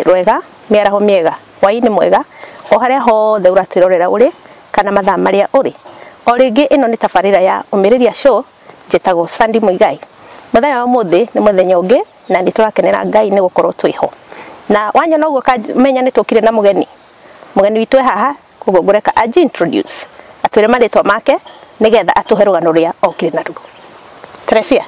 rwega mĩaraho mĩega hwaĩ-inĩ mwega o harĩa hothe ũratwĩrorera ũrĩ kana mathaa marĩa ũrĩ o rĩngĩ ĩno nĩ tabarĩra ya ũmĩrĩria show njĩtagwo Sandy Mũigai mũthenya wa ũmũthĩ nĩ mũthenya ũngĩ na nĩ tũrakenera Ngai nĩ gũkorwo twĩ ho. Na wanyona ũguo menya nĩ tũkire na mũgeni. Mũgeni witũ e haha, koguo ngũreka anji introduce, atwĩre marĩtwa make nĩ getha atũhe rũgano rũrĩa okire naruo. Teresia,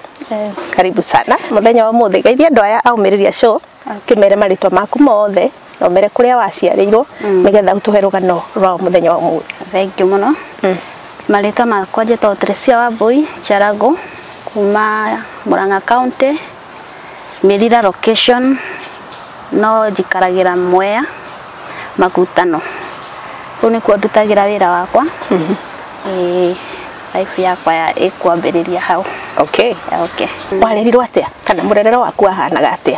karibu sana mũthenya wa ũmũthĩ. Geithia andũ aya a Ũmĩrĩria Show, ũkĩmere marĩtwa maku mothe. na ũmere kũrĩa waciarĩirwo nĩgetha ũtũhe rũgano rwa mũthenya wa ũmũthĩ thank you mũno marĩtwa makwa njĩtagwo Teresia Wambui Charago kuma Murang'a County Mirira location no njikaragĩra Mwea Makutano kũu nĩkuo ndutagĩra wĩra wakwa Ĩĩ, life yakwa ya ĩkwambĩrĩria hau okay okay warĩrirwo atĩa kana mũrerere waku wahanaga atĩa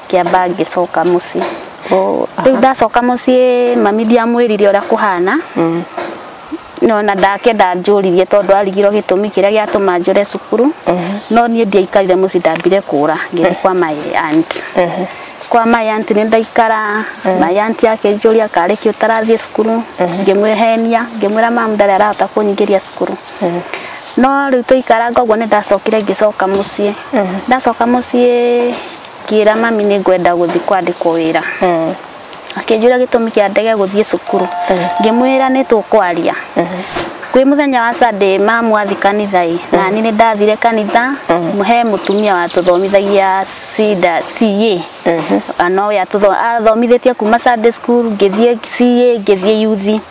ngĩamba ngĩcoka mũciĩ Oh, rĩu ndacoka mũciĩ mami ndiamwĩrire ũrĩa kũhana no na ndakenda njũririe tondũ arigirwo gĩtũmi kĩrĩa gĩatũma njũre cukuru no niĩ ndiaikarire mũciĩ ndambire kũra ngĩthiĩ kwa my aunt kwa my aunt nĩ ndaikara my aunt akĩnjũria karĩ kĩ ũtarathiĩ cukuru ngĩmwĩhenia ngĩmwĩra mamu ndarĩ arahota kũnyingĩria cukuru no rĩu tũikaranga ũguo nĩ ndacokire ngĩcoka mũciĩ ndacoka mũciĩ ngĩra mami nĩ ngwenda gũthiĩ kwandĩkwo wĩra mm. akĩnjũra gĩtũmi kĩa ndege gũthiĩ cukuru mm. ngĩmwĩra nĩ tũkwaria mm. kwĩ mũthenya wa Sunday mamu athi kanitha ĩ mm. na niĩ nĩ ndathire kanitha mm. he mũtumia watũthomithagia cida CA mm-hmm. no we atũthomithĩtie kuma Sunday school ngĩthiĩ CA ngĩthiĩ yuthi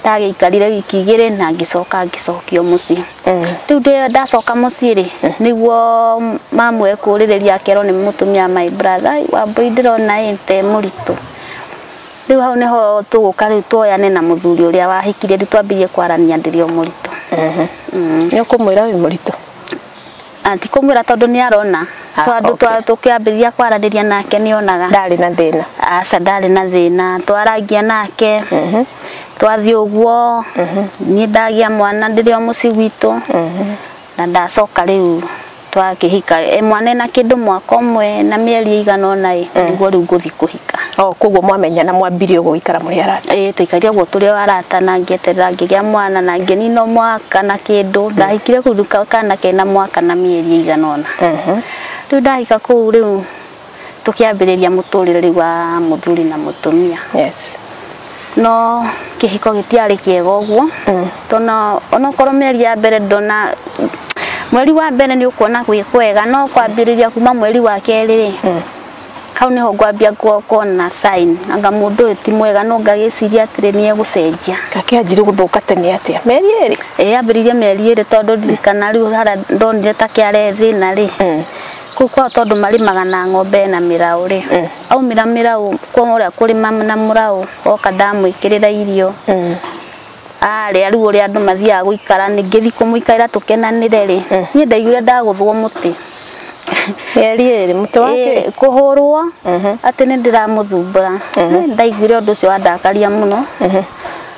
ndagĩikarire wiki igĩrĩ na ngĩcoka ngĩcokio mũciĩ mm. rĩu ndĩ- ndacoka mũciĩ rĩ nĩguo mamu ekũrĩrĩria akerwo nĩ mũtumia my brother wambui ndĩrona ĩ te mũritũ rĩu hau nĩho tũgũka rĩu tuoyane na mũthuri ũrĩa wahikire rĩu twambĩrĩrie kwarania ndĩrĩ o mũritũ nĩ ũkũmwĩra wĩ mũritũ Na ti kũmwĩra tondũ nĩ arona Ah, tondũ okay. twa- tũkĩambĩrĩria kwaranĩria nake nĩ onaga ndarĩ na thĩna aca ndarĩ na thĩna twarangia nake twathiĩ ũguo niĩ ndagĩa mwana ndĩrĩ o mũciĩ gwitũ na ndacoka rĩu twakĩhika e mwana ena kĩndũ mwaka ũmwe na mĩeri ĩigana ũna ĩ nĩguo rĩu ngũthiĩ kũhika Oh, koguo mwamenya na mwambire ũguo gũikara mũrĩ arata ĩĩ tũikaire ũguo tũrĩ o arata na ngĩeterera ngĩgĩa mwana na ngĩnina mwaka na kĩndũ ndahikire kũu rĩu ka- kana kena mwaka na mĩeri ĩigana ũna rĩu ndahika kũu rĩu tũkĩambĩrĩria mũtũrĩre rĩu wa mũthuri na mũtumia yes no kĩhiko gĩtiarĩ kĩega ũguo tona onokorwo mĩeri ya mbere ndona mweri wa mbere nĩ ũkuona gwĩ kwega no kwambĩrĩria kuma mweri wa kerĩ rĩ hau niho ngwambia kuona sign anga mundu uyu ti mwega no ngagiciria atiri ni egucenjia kake anjire guthuka tene atia meri iri eh ambiririe meri iri tondu ndirikana riu hara ndonire ta kiare thina ri mm. kuu kwao tondu marimaga na ng'ombe na mirau ri mm. aumira mirau kwa uria kurima na murau oka ndamwikirira irio mm. arĩ aru ũrĩa andũ mathiaga gũikara ningĩthi kũmũikaira tũkenanire rĩ niĩ ndaiguire ndagũthwo mũtĩ Mĩeri ĩrĩ mũtĩ wa kĩ? Ĩĩ, kũhũrwo atĩ nĩ ndĩramũthumbũra Nĩ ndaiguire ũndũ ũcio wandakaria mũno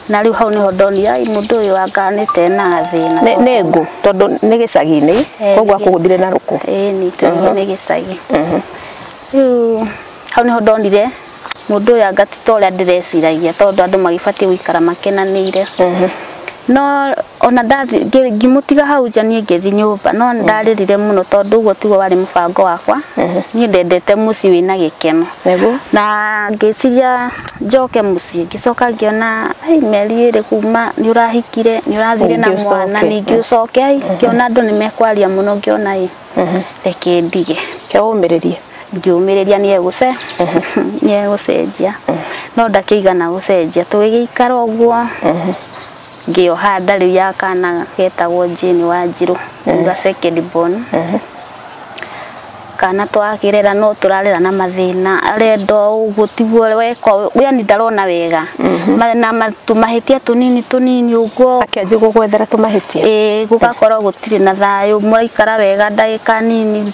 na rĩu hau nĩho ndonire "Ai, mũndũ ũyũ anga nĩte na thĩna Nĩ- nĩ ngũ tondũ nĩ gĩcagi-inĩ Eh, koguo nĩ- akũgũthire na rũkũ ĩĩ nĩ tũrigwo nĩ gĩcagi rĩu hau nĩho ndonire mũndũ ũyũ anga ti ta ũrĩa ndĩreciragia tondũ andũ magĩbatiĩ gũikara makenanĩire no ona ndathi ngĩ- ngĩmũtiga hau nja niĩ ngĩthi nyũmba no nĩ ndarĩrire mũno tondũ ũguo tiguo warĩ mũbango wakwa niĩ ndendete mũciĩ wĩna gĩkeno Nĩguo. na ngĩciria njoke mũciĩ ngĩcoka ngĩona "Ai, mĩeri ĩrĩ kuma nĩ ũrahikire nĩ ũrathire na Ningĩ ũcoke." mwana ningĩ ũcoke ai ngĩona andũ nĩ mekwaria mũno ngĩona ĩ reke ndige Kĩaũmĩrĩrie. ngiumĩrĩria nĩ egũce nĩ egũcenjia no ndakĩigana gũcenjia tũgĩgĩikara ũguo ngĩoha nda rĩu ya kana getagwo Jane wa Njirũ uga second born kana twakĩrera no tũrarera na mathĩna arenda o ũguo tiguo weka ũũ, yani ndarona wega Ma- na ma- tũmahĩtia tũnini tũnini ũguo akĩanjia gũgwethera tũmahĩtia ĩĩ gũgakorwo gũtirĩ na thayũ mũraikara wega ndagĩka nini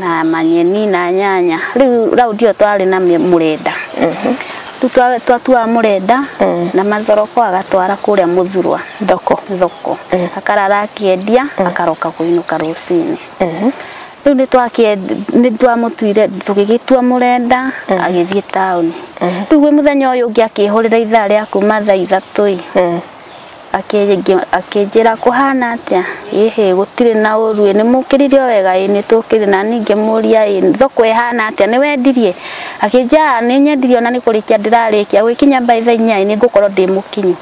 na manyeni na nyanya riu rau ndio twari na mĩ- mũrenda riu twa- twatuaga mũrenda na mathoroko agatwara kũrĩa mũthurwa thoko thoko akarara akĩendia akaroka kũinũka rũcinĩ rĩu nĩ twakĩendi- nĩ twamũtuire tũgĩgĩtua mũrenda agĩthiĩ taũni rĩu gwĩ mũthenya ũyũ ũngĩ akĩhũrĩra ithaa rĩa kuma thaa ithatũ-ĩ Akĩngi- akĩnjĩra kũhana atĩa ĩhĩ gũtirĩ na ũru ĩ nĩmũkĩrire o wega ĩ nĩtũkĩrĩ na niĩ ngĩmũria ĩ thoko ĩhana atĩa nĩwendirie akĩnjĩra "Aa, nĩnyendirie ona nĩkũrĩkia ndĩrarĩkia gũgĩkinya by thaa inya ĩ nĩngũkorwo ndĩ mũkinyu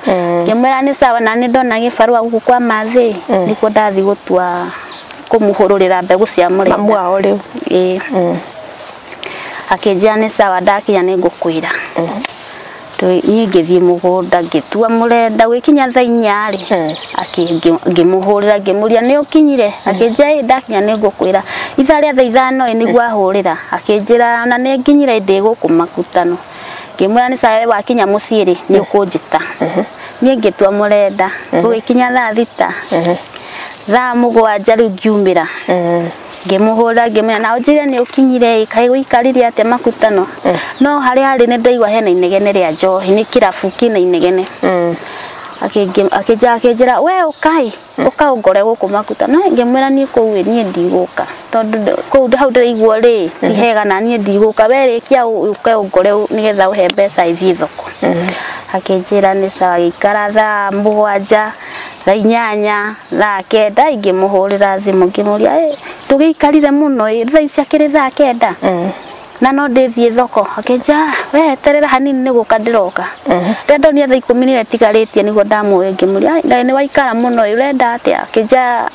ngĩmwĩra nĩ sawa na nĩndona gĩbarũa gũkũ kwa mathĩ ĩ nĩkuo ndathiĩ gũtua kũmũhũrũrĩra mbegũ cia mũrenda Mamu wao rĩu. ĩĩ akĩnjĩra nĩ sawa ndakinya nĩngũkwĩra Tũ- niĩ ngĩthiĩ mũgũnda ngĩtua mũrenda gwĩkinya thaa inya-rĩ Eh. akĩ- ngĩ- ngĩmũhũrĩra ngĩmũria nĩ ũkinyire akĩnjĩra ĩ ndakinya nĩ ngũkwĩra ithaa rĩa thaa ithano ĩ nĩguo ahũrĩra akĩnjĩra na nĩ nginyire ndĩ gũkũ makutano ngĩmwĩra nĩ sawa we wakinya mũciĩ-rĩ nĩ ũkũnjĩta niĩ ngĩtua mũrenda gũgĩkinya thaa thita thaa mũgwanja rĩu ngiumĩra Eh. ngĩmũhũra ngĩmwĩra na ũnjĩre nĩ ũkinyire ĩ kaĩ gũikarire atĩa makutano Eh. no harĩa arĩ nĩ ndaigua hena inegene rĩa njohi nĩ kĩrabu kĩna inegene Mm. Akĩngĩ- akĩnja- akĩnjĩra we ũkaĩ ũka ũngore gũkũ makuta no ngĩmwĩra niĩ kũu ĩ, niĩ ndigũka tondũ ndĩ- kũu ndĩ- hau ndĩraigua rĩ ti hega na niĩ ndigũka we rĩkia ũ- ũke ũngore ũ- nĩgetha ũhe mbeca ithiĩ thoko akĩnjĩra nĩ sawa gĩikara thaa mũgwanja thaa inyanya thaa kenda ingĩmũhũrĩra thimũ ngĩmũria "Ĩ, ndũgĩikarire mũno ĩ, thaa ici akĩrĩ thaa kenda na no ndĩthiĩ thoko akĩnja we terera hanini nĩ gũka ndĩroka rĩrĩa ndonire thaa ikũmi nĩyo ĩtigarĩtie nĩguo ndamuoya ngĩmũria "Ĩ, nĩ waikara mũno ĩ, ũrenda atĩa akĩnja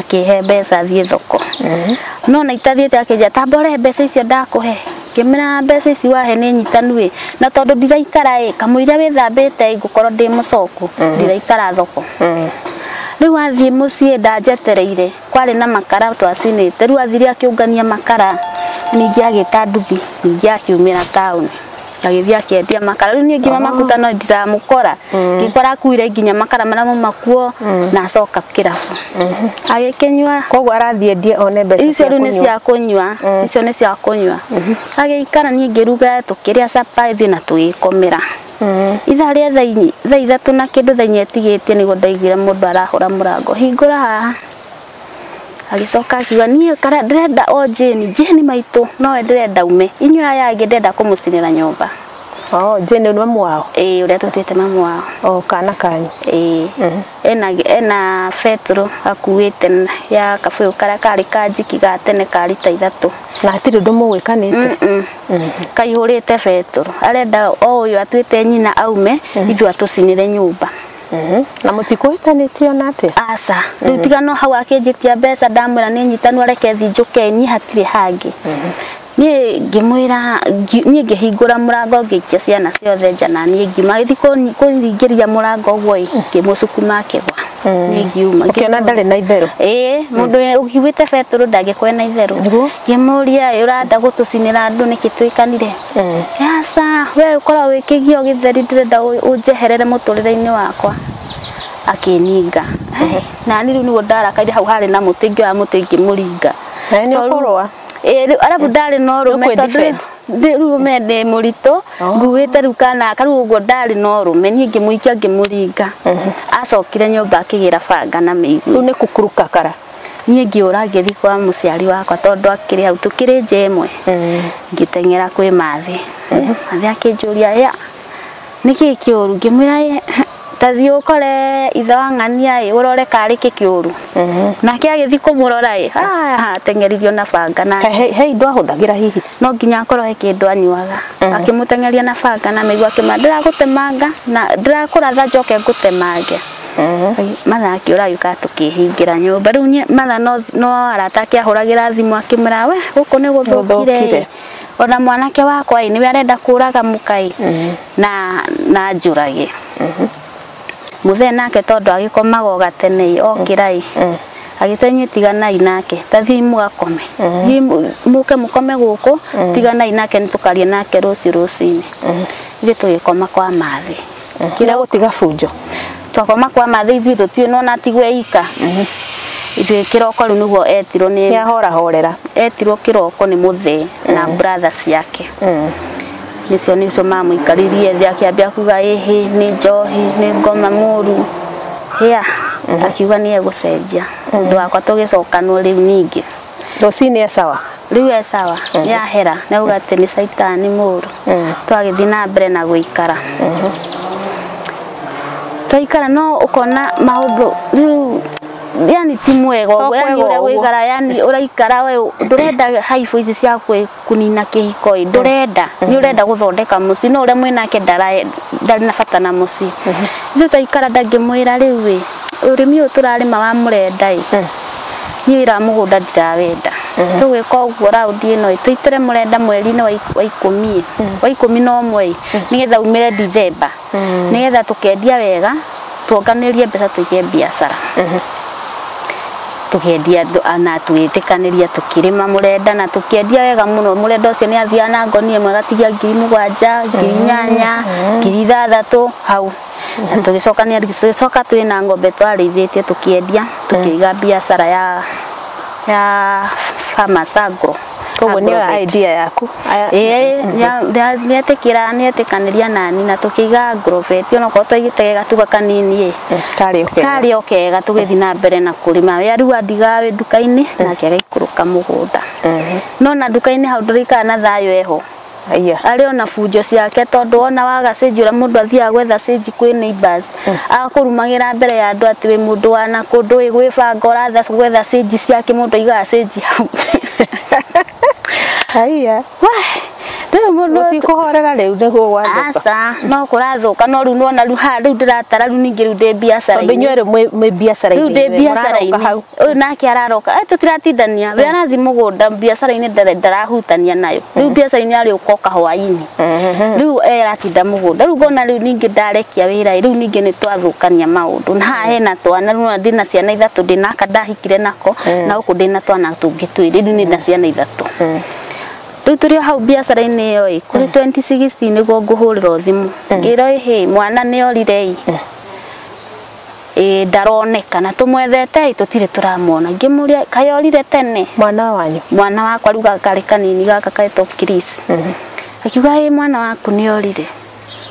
akĩhe mbeca thiĩ thoko no na itathiĩte akĩnjĩra tambore mbeca icio ndakũhe ngĩmera mbeca ici wahe nĩ nyitanu ĩ na tondũ ndiraikara ĩ kamũira wĩthambĩte ĩ ngũkorwo ndĩ mũcoku ndiraikara thoko rĩu athiĩ mũciĩ ndanjetereire kwarĩ na makara twacinĩte rĩu athire akĩũngania makara ningĩ agĩta nduthi ningĩ akiumĩra taũni agĩthiĩ akendia makara rĩu niĩ nginya makuta no ndiramũkora ngĩkora akuire nginya makara marĩa mauma kuo na acoka kĩrabu agĩkĩnyua koguo arathiĩ endie one mbeca icio rĩu nĩ kũnyua. cia kũnyua icio nĩ cia kũnyua agĩikara niĩ ngĩruga tũkĩrĩa capa ithuĩ na tũgĩkomera ithaa rĩa thaa inya- thaa ithatũ na kĩndũ thaa inya etigĩtie nĩguo ndaiguire mũndũ arahũra mũrango hingũra haha agĩcoka akiuga niĩ kara ndĩrenda o Jane Jane maitũ nowe ndĩrenda ume inyuĩ aya angĩ ndĩrenda kũmũcinĩra nyũmba Oh, Jane nĩ mamu wao. ĩĩ ũrĩa twĩtĩte mamu wao Oh, kana kanyu. ĩĩ ena ena betũrũ akuĩte na- ya kabũyũ karĩa karĩ ka njiki ga tene ka rita ithatũ Na hatirĩ ũndũ mũgwĩkanĩte. Mm-mm. kaihũrĩte betũrũ arenda o ũyũ atuĩte nyina aume ithuĩ atũcinĩre nyũmba Mhm. na mũtikũhĩtanĩtie ona atĩa aca rĩu tiga no hau akĩnjĩtia mbeca ndamwĩra nĩ nyitanu areke thiĩ njũke niĩ hatirĩ hangĩ niĩ ngĩmwĩra ngi- niĩ ngĩhingũra mũrango ngĩikia ciana ciothe nja na niĩ ngiuma gĩthi kũringĩria mũrango ũguo ĩ ngĩmũcukuma akĩgwa niĩ ngiuma ũkĩona ndarĩ na itherũ ĩĩ mũndũ ũkiuĩte betũrũ ndangĩkwena itherũ Nĩguo. ngĩmũria "Ĩ, ũrenda gũtũcinĩra andũ nĩkĩ twĩkanire Eh. Yasa, we ũkorwo wĩkĩgio gĩtheri ndĩrenda ũ- ũnjeherere mũtũrĩre-inĩ wakwa. Akĩninga. Eh, Na niĩ rĩu nĩguo ndarakaire hau harĩ na mũtĩ ingĩoya mũtĩ ingĩmũringa. Na nĩ Tondũ- ũkũrũa? Ĩĩ, rĩu arabu ndarĩ na ũrũme Nĩũkwĩ tondũ defend? ndĩ- rĩu ũme ndĩ mũritũ nguĩte rĩu kana aka rĩu ũguo ndarĩ na ũrũme niĩ ngĩmũikia ngĩmũringa acokire nyũmba akĩgĩra banga na mĩigua Rĩu nĩ kukuruka kara. niĩ ngĩũra ngĩthiĩ kwa mũciari wakwa tondũ akĩrĩ hau tũkĩrĩ nja ĩmwe ngĩteng'era kwĩ mathĩ mathĩ akĩnjũria ya nĩkĩ kĩũru ngĩmwĩra "Ĩ, tathiĩ ũkore ithe wa ng'ania ĩ ũrore karĩ kĩ kĩũru nake agĩthiĩ kũmũrora ĩ "Ah, ateng'eririo na banga na He- he- he indo ahũthagĩra hihi no nginya akorwo he kĩndũ anyuaga akĩmũteng'eria na banga na mĩigua akĩmwĩra ndĩragũtemanga na ndĩrakũratha njoke ngũtemange matha akĩũra yuka tũkĩhingĩra nyũmba rĩu nye- matha no no arata ake ahũragĩra thimũ akĩmwĩra we gũkũ nĩ Gũthũkire. gũthũkire ona mwanake wakwa ĩ nĩwe arenda kũraga mũkai na na njũrage mũthee nake tondũ agĩkomaga o gatene ĩ okĩra ĩ agĩta inyuĩ tiganai nake ta thiĩ mũgakome thiĩ mũ- mũke mũkome gũkũ tiganai nake nĩ tũkaria nake rũciũ rũcinĩ ithuĩ tũgĩkoma kwa mathĩ kira gutiga bunjo twakoma kwa mathe ithuĩ tũtiũĩ no natigwe ika ithuĩ kĩroko rĩu nĩguo etirwo nĩ nĩ ahora horera etirwo kĩroko nĩ mũthee na brother ciake nĩcio nĩcio mamũikaririe thĩ akĩambia kuga ĩhĩ nĩ njohi nĩ ngoma mũru hĩa akiuga nĩ egũcenjia ũndũ wakwa tũgĩcokanwo rĩu ningĩ rũcinĩ esawa rĩu e sawa yahera nauga atĩ nĩ caitani mũru twagĩthiĩ na mbere na gũikara twaikara no ũkona maũndũ rĩu yani ti mwega ũguo yani ũrĩa Tokwega ũguo. gũikara yani ũraikara we ndũrenda haibũ ici cia kwĩ kũnina kĩhiko ĩ ndũrenda nĩ ũrenda gũthondeka mũciĩ no ũrĩa mwĩnake ndara- ndarĩ na bata na mũciĩ ithuĩ twaikara ndangĩmwĩra rĩu ĩ ũrĩmi ũyũ tũrarĩma wa mũrenda ĩ niĩ wĩra wa mũgũnda ndirawenda tũgwĩka ũguo raundi ĩno ĩ tũitĩre mũrenda mweri-inĩ wa ik- wa ikũmi ĩ wa ikũmi na ũmwe ĩ nĩgetha umĩre Ndithemba nĩgetha tũkendia wega tuonganĩrĩrie mbeca tũige biacara tũkendia andũ- a- na tũgĩtĩkanĩria tũkĩrĩma mũrenda na tũkĩendia wega mũno mũrenda ũcio nĩ athiaga na ngoni ĩmwe agatigia ngiri mũgwanja ngiri inyanya ngiri ithathatũ hau na tũgĩcokania tũgĩcoka twĩ na ng'ombe twarĩithĩtie tũkĩendia tũkĩiga biacara ya ya farmers agro koguo nĩyo Agrovet. idea yaku Aya- Ĩĩ, ya- ya- nĩetĩkĩra nĩetĩkanĩria nani na tũkĩiga grovet onokorwo twaigĩtegega tuga kanini ĩ karĩ okay karĩ o kega tũgĩthiĩ na mbere na kũrĩma we rĩu andigaga wĩ nduka-inĩ nake agaikũrũka mũgũnda no na nduka-inĩ hau ndũrĩikara na thayũ eho Aiya. arĩ ona bunjo ciake tondũ wona waga stage ũrĩa mũndũ athiaga gwetha stage kwĩ neighbors agakũrumagĩra mbere ya andũ atĩ wĩ mũndũ wa na kũndũ wĩ gwĩbanga ũrathiĩ gwetha stage ciake mũndũ aigaga stage hau Aiya. Wah, rĩu mũndũ Gũtikũhorera rĩu nĩguo gwathũka. aca no kũrathũka no rĩu nona rĩu haha rĩu ndĩratara rĩu ningĩ rĩu ndĩ biacara Tondũ inyuĩ erĩ mwĩ- mwĩ biacara-inĩ Rĩu ndĩ inyuĩ, mũraroka biacara-inĩ. hau. uyu nake araroka eh tutiratindania we arathi mugunda biacara ini ndarahutania nayo riu biacara ini ari ukoka hwaini riu eh aratinda mugunda riu ngona riu ningi ndarekia wira riu ningi ni twathukania maundu na haha hena twana riu ndi na ciana ithatu ndi naka ndahikire nako na uku ndi na twana tungi twiri riu ni na ciana ithatu riu turi o hau biacara-inĩ ĩyo ĩ kũrĩ 2016 nĩguo ngũhũrĩrwo thimũ ngĩrwo ĩhĩ mwana nĩ orire ĩ ĩĩ ndaroneka na tũmwethetei tũtirĩ tũramuona ngĩmũria kaĩ orire tene mwana wanyu mwana wakwa rĩu gaka karĩ kanini gaka ketwo Chris akiuga ĩ mwana waku nĩ orire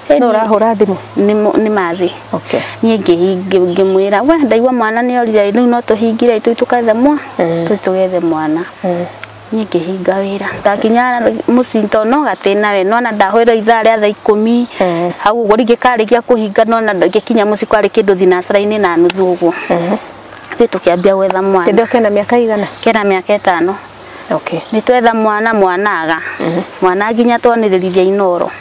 Ĩ, no ũrahũra thimũ nĩ mo- nĩ mathĩ okay niĩ ngĩhi- ngĩ- ngĩmwĩra we ndaigua mwana nĩ orire rĩu no tũhingire itũi tũgethe mwa tũi tũgethe mwana niĩ ngĩhinga wĩra ndakinya mũciĩ tondũ no gatĩ nawe nona ndahũrĩra ithaa rĩa thaa ikũmi Eh. hau ũguo rĩngĩ karĩkia kũhinga nona ngĩkinya mũciĩ kwarĩ kĩndũ thinacara-inĩ na nuthu ũguo ithuĩ tũkĩambia gwetha mwana Kĩndũ kena mĩaka igana? kena mĩaka ĩtano Okay. nĩ twetha mwana mwanaga mwana nginya twanĩrĩrithia inoro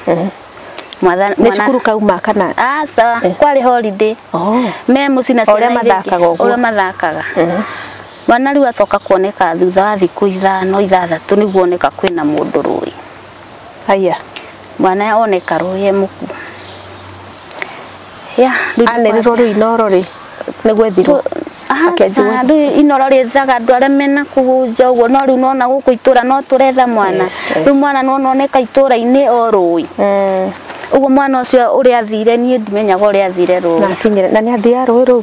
Mwana- Nĩ mwana- cukuru kauma kana? aca kwarĩ holiday Oh. me mũciĩ na O ũrĩa ciana iria ingĩ, mathakaga ũguo. ũrĩa mathakaga Rwana rĩu acoka kuoneka thutha wa thikũ ithano ithathatũ nĩguo oneka kwĩna mũndũ rũĩ. Aya. Mwana oneka rũĩ e mũku. Ya, rĩu Anerirwo rĩu inoro rĩ nĩ gwethirwo. Akĩanjirwo- Aca, rĩu inoro rĩethaga andũ arĩa mena kũhunja ũguo no rĩu nona gũkũ itũra no tũretha mwana Yes, yes. rĩu mwana nona oneka itũra-inĩ o rũĩ Mm. ũguo mwana ũcio ũrĩa athire niĩ ndimenyaga ũrĩa athire rũĩ Na akinyire na nĩ athia rũĩ rũu.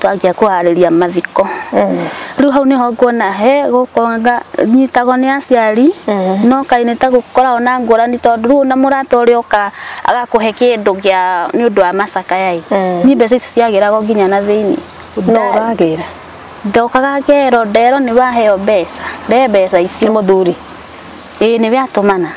twanjia kũharĩria mathiko rĩu hau nĩho nguona he gũkonga nyitagwo nĩ aciari no kaĩ nĩ ta gũkoragwo na ngũrani tondũ rĩu na mũrata ũrĩa ũka agakũhe kĩndũ gĩa nĩ ũndũ wa macakaya ĩ niĩ mbeca icio ciagĩragwo nginya na thĩinĩ no ũragĩra ndokaga ngero nderwo nĩ waheo mbeca nde mbeca icio nĩ mũthuri ĩĩ nĩwe atũmana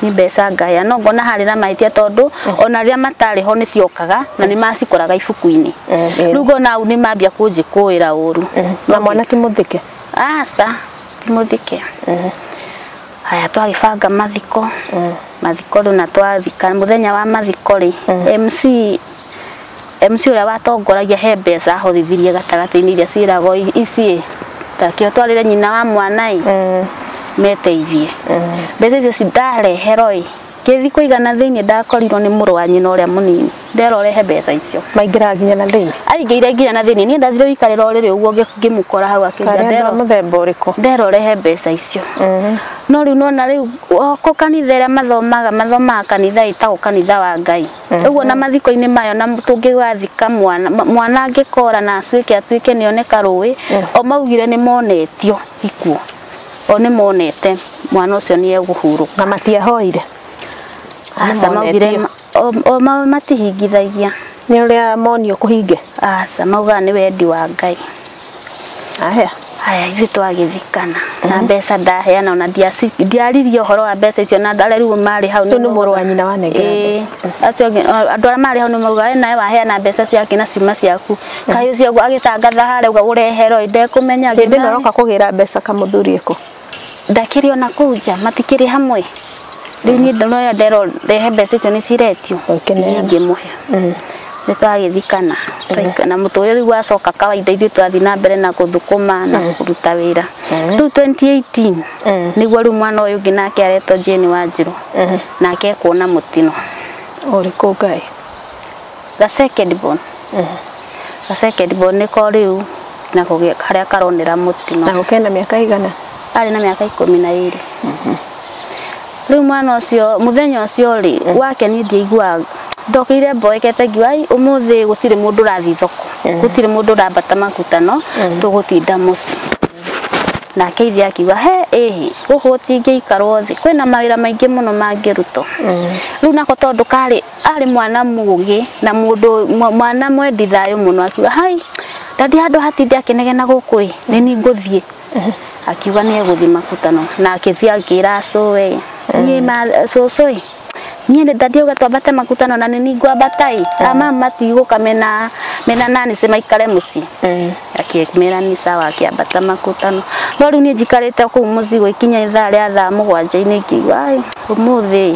nĩ mbeca ngaya no ngona harĩ na mahĩtia tondũ ona rĩrĩa matarĩ ho nĩ ciokaga na nĩ macikoraga ibuku-inĩ Eh, eh. rĩu ngona hau nĩ mambia kũnjĩkũĩra ũru na mwana ti mũthike aca ti mũthike haya twagĩbanga mathiko mathiko rĩu na twathika mũthenya wa mathiko rĩ mc MC ũrĩa watongoragia he mbeca ahothithirie gatagatĩ-inĩ iria ciĩragwo i- ici ĩ takio twarĩre nyina wa mwana ĩ Mm. meteithie mbeca icio ci ndareherwo ĩ ngĩthi kũigana thĩinĩ ndakorirwo nĩ mũrũ wa nyina ũrĩa mũnini ndera ũrehe mbeca icio maingĩraga nginya na thĩinĩ aingĩire nginya na thĩinĩ niĩ ndathire gũikarĩra o rĩrĩ ũguo ngĩ- ngĩmũkora hau akĩnja karĩ andũ a ndera mũthemba ũrĩkũ ndera ũrehe mbeca icio Mhm. no rĩu nona rĩu o kũ kanitha ĩrĩa mathomaga mathomaga kanitha ĩtagwo kanitha wa ngai ũguo na mathiko-inĩ mayo na tũngĩgathika mwana ma- mwana angĩkora na acuĩke atuĩke nĩoneka rũĩ o maugire nĩ monetio ikuo o nĩ monete mwana ũcio nĩ egũhurũka na matiahoire aca maugire Nĩmonetio. o- o ma- matihingithagia nĩ ũrĩa monio kũhinge aca maugaga nĩ wendi wa ngai Ahea. Haya, ithuĩ twagĩthikana na mbeca ndaheana ona ndiaci- ndiaririe ũhoro wa mbeca icio na arĩa rĩu marĩ hau Ũyũ nĩ mũrũ wa nyina wanengera Ĩĩ. mbeca. Acio angĩ- a- andũ arĩa marĩ hau nĩ mauga "Wee nawe waheana mbeca ciake na ciuma ciaku kaĩ ũcio agĩtangatha harĩa auga ũreherwo ĩ, ndekũmenya Hĩndĩ ĩno ngina- ũroka kũgĩra mbeca kamũthuri ĩkũ? ndakĩrĩ ona kũu nja matikĩrĩ hamwe rĩu niĩ ndĩroya ndero ndehe mbeca icio nĩ ciretio Ũkĩneana. ingĩmũhe nĩ twagĩthikana Twaika- na mũtũrĩre rĩu wacoka kawaida ithuĩ twathiĩ na mbere na gũthũkũma na kũruta wĩra rĩu 2018 Mm. nĩguo rĩu mwana ũyũ ũngĩ nake aretwo Jane Wanjirũ nake ekuona mũtino ũrĩkũ ngai ga second born ga second born nĩko rĩu na kũgĩa harĩa karonera mũtino na gũkena mĩaka igana arĩ na mĩaka ikũmi na ĩrĩ rĩu mwana ũcio mũthenya ũcio rĩ wake niĩ ndiaiguaga ndokĩire mboekete ngiuga "Ai, ũmũthĩ gũtirĩ mũndũ ũrathiĩ thoko gũtirĩ mũndũ ũrambata makutano tũgũtinda mũciĩ nake ithe akiuga he ĩhĩ gũkũ gũtingĩikarwo thĩ kwĩna mawĩra maingĩ mũno mangĩrutwo rĩu nako tondũ karĩ arĩ mwana mũgĩ na mũndũ mwa- mwana mwendi thayũ mũno akiuga hai ndathi handũ hatinde akĩnegena gũkũ ĩ nĩ niĩ ngũthiĩ akiuga nĩ egũthiĩ makutano na akĩthiĩ akĩra cũĩ niĩ ma- cũcũ ĩ niĩ nĩ ndathi uga twambate makutano na nĩ niĩ ngwambata ĩ ama matigũka mena mena nani se maikare mũciĩ akĩmera nĩ sawa akĩambata makutano no rĩu niĩ njikarĩte kũu mũciĩ gũikinya ithaa rĩa thaa mũgwanja-inĩ ngĩigua "Ai, ũmũthĩ ĩ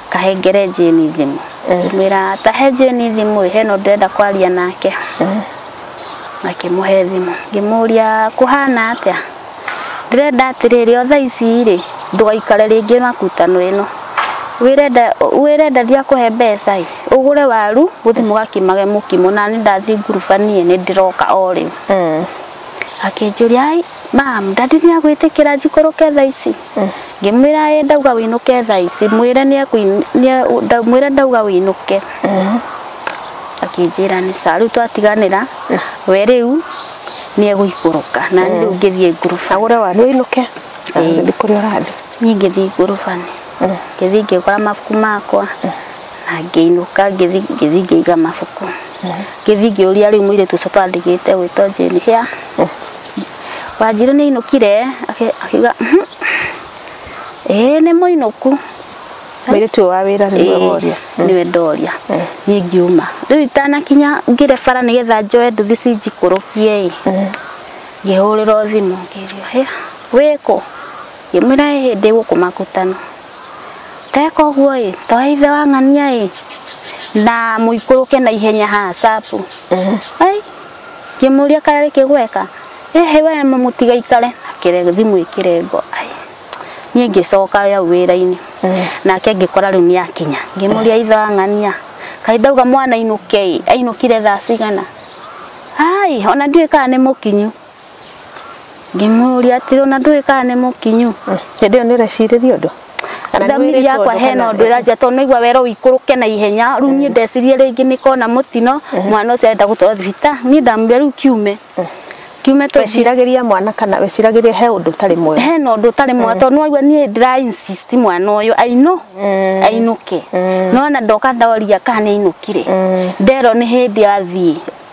kahengere Jane thimũ mwĩra tahe Jane thimũ he no ndĩrenda kwaria nake makĩmũhe thimũ ngĩmũria kũhana atĩa ndĩrenda atĩrĩrĩ o thaa ici rĩ ndũgaikare rĩngĩ makutano ĩno wĩrenda wĩrenda thia kũhe mbeca ĩ ũgũre waru gũthiĩ mũgakimage mũkimo na nĩ ndathiĩ ngurubanie nĩ ndĩroka o rĩu akĩnjũria "Ai, mam ndandi nĩ agwĩtĩkĩra njikũrũke thaa ici ngĩmwĩra ĩ ndauga wĩinũke thaa ici mwĩre nĩ ekũin- nĩ e- nda- mwĩre ndauga wĩinũke akĩnjĩra nĩ sawa rĩu twatiganĩra we rĩu nĩ egũikũrũka na niĩ rĩu ngĩthiĩ nguruba agũre waru ũinũke na Ĩĩ. gũthiĩ kũrĩa ũrathiĩ niĩ ngĩthiĩ nguruba-inĩ ngĩthiĩ ngĩgũra mabuku makwa na ngĩinũka ngĩthiĩ ngĩthiĩ ngĩiga mabuku ngĩthiĩ ngĩũria rĩu mũirĩtu ũcio twandigĩte gwĩtwo Jane hĩa Wanjirũ nĩ ainũkire akĩ- akiuga "Mhm, ĩĩ nĩ mũinũku Mũirĩtu ũyũ wa wĩra nĩ Ĩĩ, woria. nĩwe ndoria Eh. niĩ ngiuma rĩu itanakinya ngĩre bara nĩgetha njoe nduthi cinjikũrũkie ĩ ngĩhũrĩrwo thimũ ngĩrio he wĩkũ ngĩmwĩra ĩ hĩndĩ gũkũ makutano teka ũguo ĩ toya ithe wa ng'ania ĩ na mũikũrũke na ihenya haha capu ai ngĩmũria kana rĩkĩ gweka ehe we mũtiga ikare akĩre thimũ ĩkĩre ngo ai niĩ ngĩcoka yau wĩra-inĩ nake ngĩkora rĩu nĩ akinya ngĩmũria ithang'ania kaĩ ndauga mwana ainũke ĩ ainũkire thaa cigana ai ona ndiũĩ kana nĩ mũkinyu ngĩmũria atĩ ona ndũĩ kana nĩ mũkinyu hĩndĩ ĩyo nĩ ũrecirĩria ũndũ Kana nĩ thamiri wĩrĩtwo yakwa ũndũ hena kana- ũndũ ĩranjia tondũ naigua wero ũikũrũke na ihenya rĩu niĩ ndecirie rĩngĩ nĩ kona mũtino mwana ũcio arenda gũtwarwo thibita niĩ ndamwĩra rĩu kiume kiume tũthiĩ weciragĩria mwana kana weciragĩria he ũndũ ũtarĩ mwega hena ũndũ ũtarĩ mwa tondũ nĩwaigua niĩ ndĩra insist mwana ũyũ ainũ ainũke nona ndoka ndaria kana nĩ ainũkire nderwo nĩ hĩndĩ athiĩ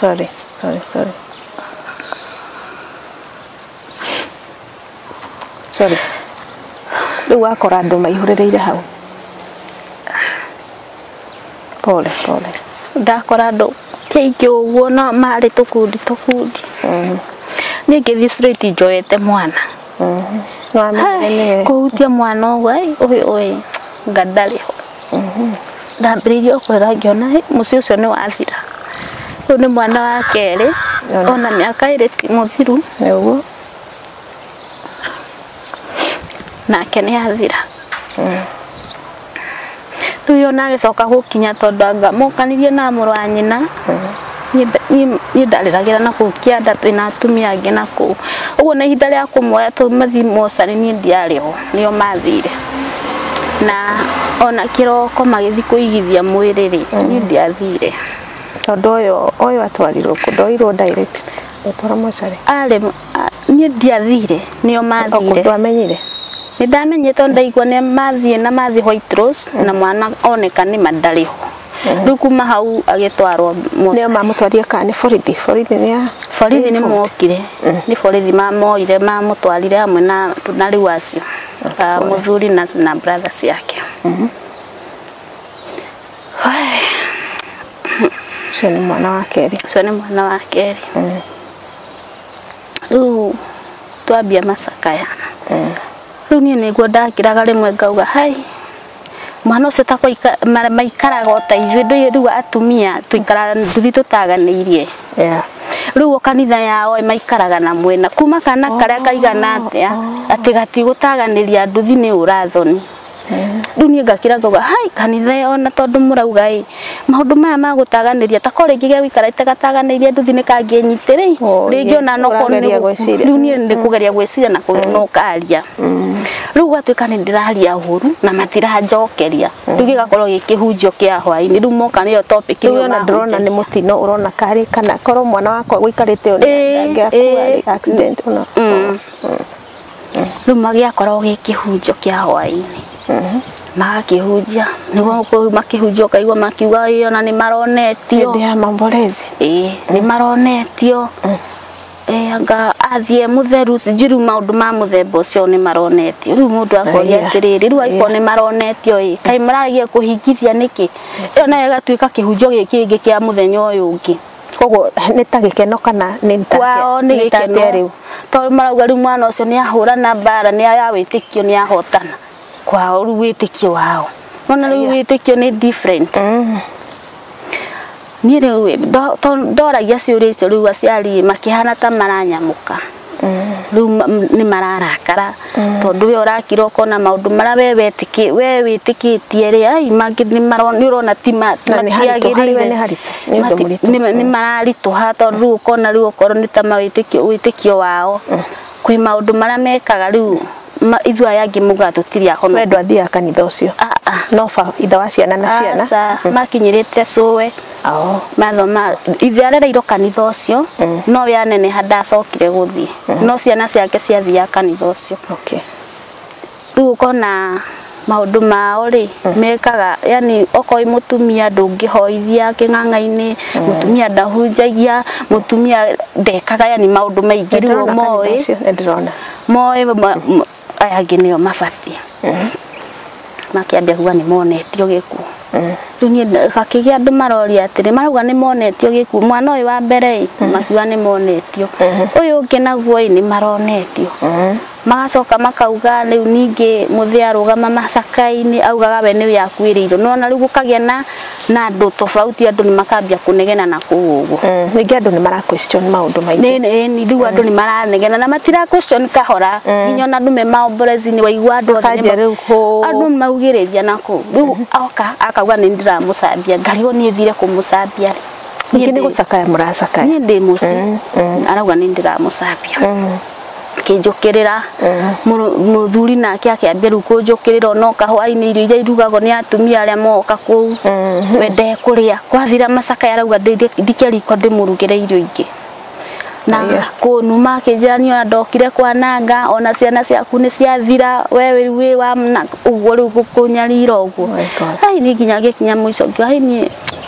sorry sorry sorry sorry rĩu wakora andũ maihũrĩrĩire hau pole pole ndakora andũ kaingĩ ũguo no marĩ tũkundi tũkundi niĩ ngĩthiĩ straight njoete mwana Wamenyire kũhutia mwana ũguo ĩ, ũyũ ũyĩ nga ndarĩ ho ndambĩrĩirie kũrĩra ngĩona "Ĩ, mũciĩ ũcio nĩ wathira ũyũ nĩ mwana wa kerĩ Ona. ona mĩaka ĩrĩ ti mũthiru nĩguo nake nĩ athira rĩu yo nagĩcoka gũkinya tondũ anga mũkanirie na mũrũ wa nyina niĩ ndarĩragĩra na kũu kĩanda twĩna atumia angĩ na kũu ũguo na ihinda rĩa kũmuoya tondũ mathiĩ mocarĩ niĩ ndiarĩ ho nĩo mathire na ona kĩroko magĩthiĩ kũigithia mwĩrĩ rĩ niĩ ndiathire tondũ ũyũ ũyũ atwarirwo kũ ndoirwo direct arĩ niĩ ndiathire nĩo mathire ndwamenyire nĩ ndamenye tondũ ndaigua nĩ mathiĩ na mathiĩ White Rose na mwana oneka nĩ mandarĩ ho rĩu kuma hau agĩtwarwo Mosta. nĩo mamũtwarire kana nĩ borithi borithi nĩ ya borithi nĩ mokire nĩ borithi mamoire mamũtwarire hamwe na na rĩu acio Ah, mũthuri na na brother ciake ũcio nĩ mwana wa kerĩ ũcio nĩ mwana wa kerĩ rĩu twambia macakaya rĩu niĩ nĩguo ndakĩraga rĩmwe ngauga hai mwana ũcio takwa maikaraga o ta ithuĩ ndũĩ rĩu atumia tũikaraga nduthi tũtaganĩirie Yeah. rĩu o kanitha yao ĩ, maikaraga na mwena kuma kana karĩa kaigana atĩa atĩ gatigũtaganĩria nduthi nĩ ũrathoni rĩu niĩ ngakĩra ngauga hai kanitha ĩyo na tondũ mũrauga ĩ maũndũ maya ma gũtaganĩria ta ko rĩngĩ gĩa gũikara itagataganĩirie nduthi nĩ kangĩnyite rĩ Oh, rĩngĩ yes. ona no korwo nĩ Ũrageria gũku- gwĩciria. rĩu niĩ nĩ kũgeria gwĩciria na kũgeria no karia rĩu gatuĩka nĩ ndĩraria ũru na matiranjokeria rĩu gĩgakorwo gĩkĩhunjio kĩa hwainĩ rĩu moka nĩyo topic rĩu ĩyo ona ndĩrona nĩ mahunjagia. mũtino ũrona karĩ kana korwo mwana wakwa gũikarĩte ũrĩa Ĩĩ, angĩakua ĩĩ. rĩ, accident ũna Mm. rĩu magĩakoragwo gĩ kĩhunjio kĩa hwaĩ-inĩ magakĩhunjia nĩguo kũu makĩhunjia ũkaigua makiuga ĩĩ ona nĩ maronetio hĩndĩ ya mamborezi ĩĩ nĩ maronetio ĩĩ anga athiĩ mũtheru sijui rĩu maũndũ ma mũthemba ũcio nĩ maronetio rĩu mũndũ akoria Aya. atĩrĩrĩ rĩu angĩkorwo nĩ maronetio ĩ kaĩ mararagia kũhingithia nĩkĩ ĩyo nayo ĩgatuĩka kĩhunjio gĩkĩ kĩngĩ kĩa mũthenya ũyũ ũngĩ koguo nĩ ta gĩkeno kana nĩ ta kwao nĩ nĩ ta atĩa gĩkeno rĩu tondũ marauga rĩu mwana ũcio nĩ ahũrana mbara nĩ ya wĩtĩkio nĩ ahotana kwao rĩu wĩtĩkio wao nona rĩu wĩtĩkio nĩ different niĩ rĩu ĩ, ndo- to- ndoragia ciũria icio rĩu aciari ĩ, makĩhana ta maranyamũka rĩu ma- m- nĩ mararakara tondũ we ũrakira ũkona maũndũ marĩa we wetĩkĩ- we wĩtĩkĩtie rĩ ai mangĩ nĩ maro- nĩ ũrona ti ma- ti Na nĩ haritũ, harĩ we matiagĩrĩire. nĩ haritũ, nĩ ũndũ Mati- mũritũ. nĩ- nĩ mararitũha tondũ rĩu ũkona rĩu okorwo nĩ ta mawĩtĩkio wĩtĩkio wao kwĩ maũndũ marĩa mekaga rĩu ma ithuĩ aya angĩ muga tũtirĩ ahonoku we ndwathiaga kanitha ũcio Ah, ah. no ba itha wa ciana na ciana Aca, makinyĩrĩte cũwe Oo. mathoma ithe arereirwo kanitha ũcio Mm. no we aneneha ndacokire gũthiĩ no ciana ciake ciathiaga kanitha ũcio okay rĩu ũkona maundu mao ri mm. mekaga yani okoi mutumia ndungihoithia king'ang'ainĩ mm. mutumia ndahunjagia mutumia ndekaga yani maundu maingĩ riu moĩ moĩ aya angĩ nĩo mabatie mm. makiambia kuga nĩ monetio gĩkuũ riu niĩ gakĩgĩa andũ maroria atĩrĩ marauga nĩ monetio gĩkuũ mwana ũyũ wa mbere ĩ makiuga nĩ monetio ũyũ ũngĩ naguo ĩ nĩ maronetio Magacoka makauga rĩu ningĩ mũthĩ arũgama macakainĩ augaga we nĩwe akuĩrĩirwo nona rĩu gũkagĩa na na andũ tofauti andũ nĩ makambia kũnegena na kũu ũguo mm, ningĩ andũ nĩ mara question maũndũ maingĩ nĩ rĩu andũ nĩ maranegena na matira question kahora mm. nginya ona andũ me maomborezinĩ waigua andũ andũ nĩ maugĩrĩria na kũu rĩu mm-hmm. oka akauga nĩ ndĩramũcambia ngari o niĩ thire kũmũcambia ningĩ nĩ gũcakaya mũracakaya niĩ ndĩ mũciĩ mm, arauga nĩ ndĩramũcambia akĩnjũkĩrĩra Mũrũ- mũthuri nake akĩambia rĩu kũnjũkĩrĩra onoka hwainĩ irio iria irugagwo nĩ atumia arĩa moka kũu wende kũrĩa kwathira macakaya arauga "Ndĩ- ndike riko ndĩmũrugĩre irio ingĩ na Aya. kũnuma akĩnjĩra niĩ ona ndokire kwananga ona ciana ciaku nĩ ciathira we rĩu wĩ wa na- ũguo rĩu gũkũnyarira ũguo Oh my God. Ai, niĩ nginya ngĩkinya mũico ngiuga, "Ai, niĩ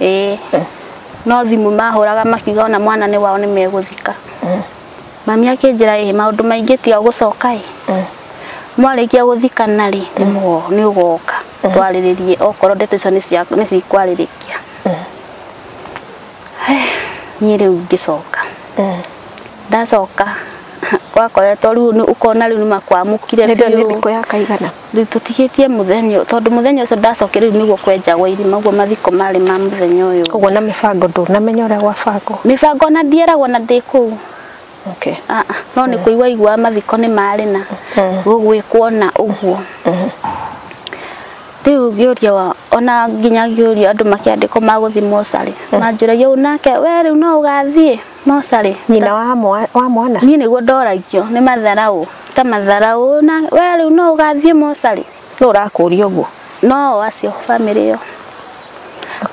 ĩĩ no thimũ mahũraga makiuga ona mwana nĩ wao nĩ megũthika mami akĩnjĩra ĩ maũndũ maingĩ tiga gũcoka ĩ mwarĩkia gũthikana rĩ nĩ mũgo- nĩ ũgoka twarĩrĩrie okorwo ndeto icio nĩ cia- nĩ cikwarĩrĩkia Eh, niĩ rĩu ngĩcoka ndacoka gwakoretwo rĩu nĩ- ũkona rĩu nĩ makwamũkire nĩ ndio nĩ biũ. thikũ ya kaigana Rĩu tũtigĩtie mũthenya ũyũ, tondũ mũthenya ũcio ndacokire rĩu nĩguo kwenja gwa irima, ũguo mathiko marĩ ma mũthenya ũyũ. Ũguo na mĩbango ndũnamenya ũrĩa gwabangwo? Mĩbango ona ndieragwo na ndĩ kũu. Okay. Ah, ah, no nĩ kũigua iguaga mathiko nĩ marĩ na gũgwĩkwo na ũguo. Rĩu ngĩũria wa- ona nginya ngĩũria andũ makĩandĩkwo ma gũthiĩ mocarĩ manjũragia ũũ nake we rĩu no ũgathiĩ no carĩ nyina wa mwa- wa mwana niĩ nĩguo ndoragio nĩ matharaũ ta matharaũ na we rĩu no ũgathiĩ mocarĩ nũ ũrakũria ũguo no acio bamĩrĩ ĩyo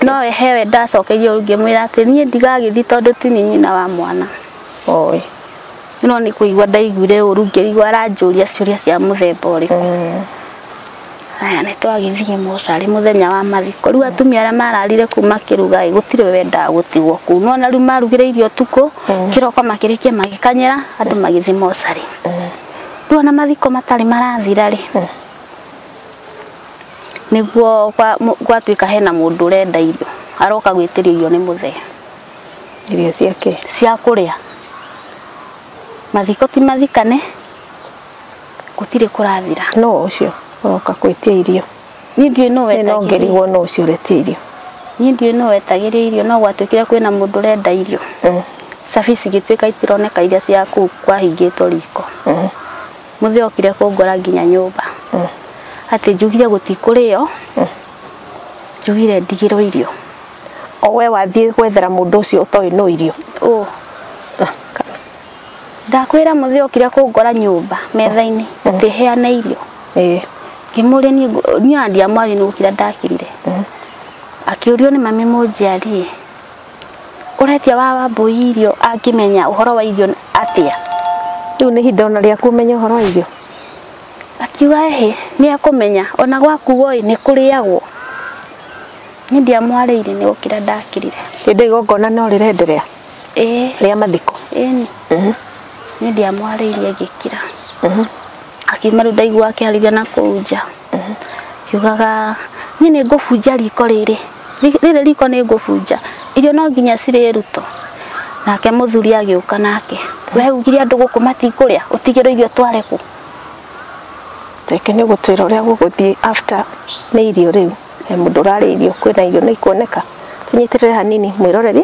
no wehewe ndacokerio ngĩmwĩra atĩ niĩ ndigagĩthi tondũ ti niĩ nyina wa mwana oĩ no nĩ kũigua ndaiguire ũru ngĩigua aranjũria ciũria cia mũthemba ũrĩkũ Aya nĩ twagĩthiĩ mocarĩ mũthenya wa mathiko. Rĩu atumia arĩa mararire kũu makĩruga ĩ, gũtirĩ wendaga gũtigwo kũu. Nĩ wona rĩu marugire irio ũtukũ, kĩroko makĩrĩkia magĩkanyĩra, andũ magĩthiĩ mocarĩ. Rĩu ona mathiko matarĩ marathira rĩ, nĩguo gwa- mũ- gwatuĩka hena mũndũ ũrenda irio, aroka gwĩtĩrio irio nĩ mũthee irio ciake cia kũrĩa. Mathiko ti mathikane, gũtirĩ kũrathira no ũcio ũroka kwĩtia irio niĩ ndiũĩ no wetagĩrĩria nongerigwo no ũcio ũretia irio niĩ ndiũĩ no wetagĩrĩria irio no gwatuĩkire kwĩna mũndũ ũrenda irio Mm. cabi cigĩtuĩka itironeka iria cia kũu kwahingĩtwo riko Mhm. mũthĩ okire kũngora nginya nyũmba Mm. atĩ njugire gũtikũrĩo njugire ndigĩrwo irio o we wathiĩ gwethera mũndũ ũcio ũtoĩ no irio Ũ, ndakwĩra mũthĩ okire kũngora nyũmba metha-inĩ atĩ heana irio ĩĩ ngĩmũria niĩ ngũ- niĩ ona ndiamwaria nĩ gũkira ndakirire akĩũrio nĩ mami mũnjiarie ũretia wa wambũi irio angĩmenya ũhoro wa irio atĩa rĩu nĩ ihinda ona rĩaku ũmenye ũhoro wa irio akiuga ehe nĩ ekũmenya ona gwakuo ĩ nĩ kũrĩagwo niĩ ndiamwarĩire nĩ gũkira ndakirire hĩndĩ ĩyo igongona no rĩrenderea ĩĩ rĩa mathiko ĩni Mhm. nĩ ndiamwarĩirie ngĩkira Mhm. akiuma rĩu ndaigua akĩarĩria na kũu nja kiugaga niĩ nĩ ngũbunja riko rĩrĩ Ri- rĩrĩ riko nĩ ngũbunja irio no nginya cirĩrutwo nake mũthuri agĩũka nake we ugire andũ gũkũ matikũrĩa ũtigĩrwo irio tware kũ reke nĩ gũtwĩra ũrĩa gũgũthiĩ after nĩ irio rĩu he mũndũ ũrarĩa irio kwĩna irio nĩ ikuoneka tũnyitĩrĩre hanini mwĩroreri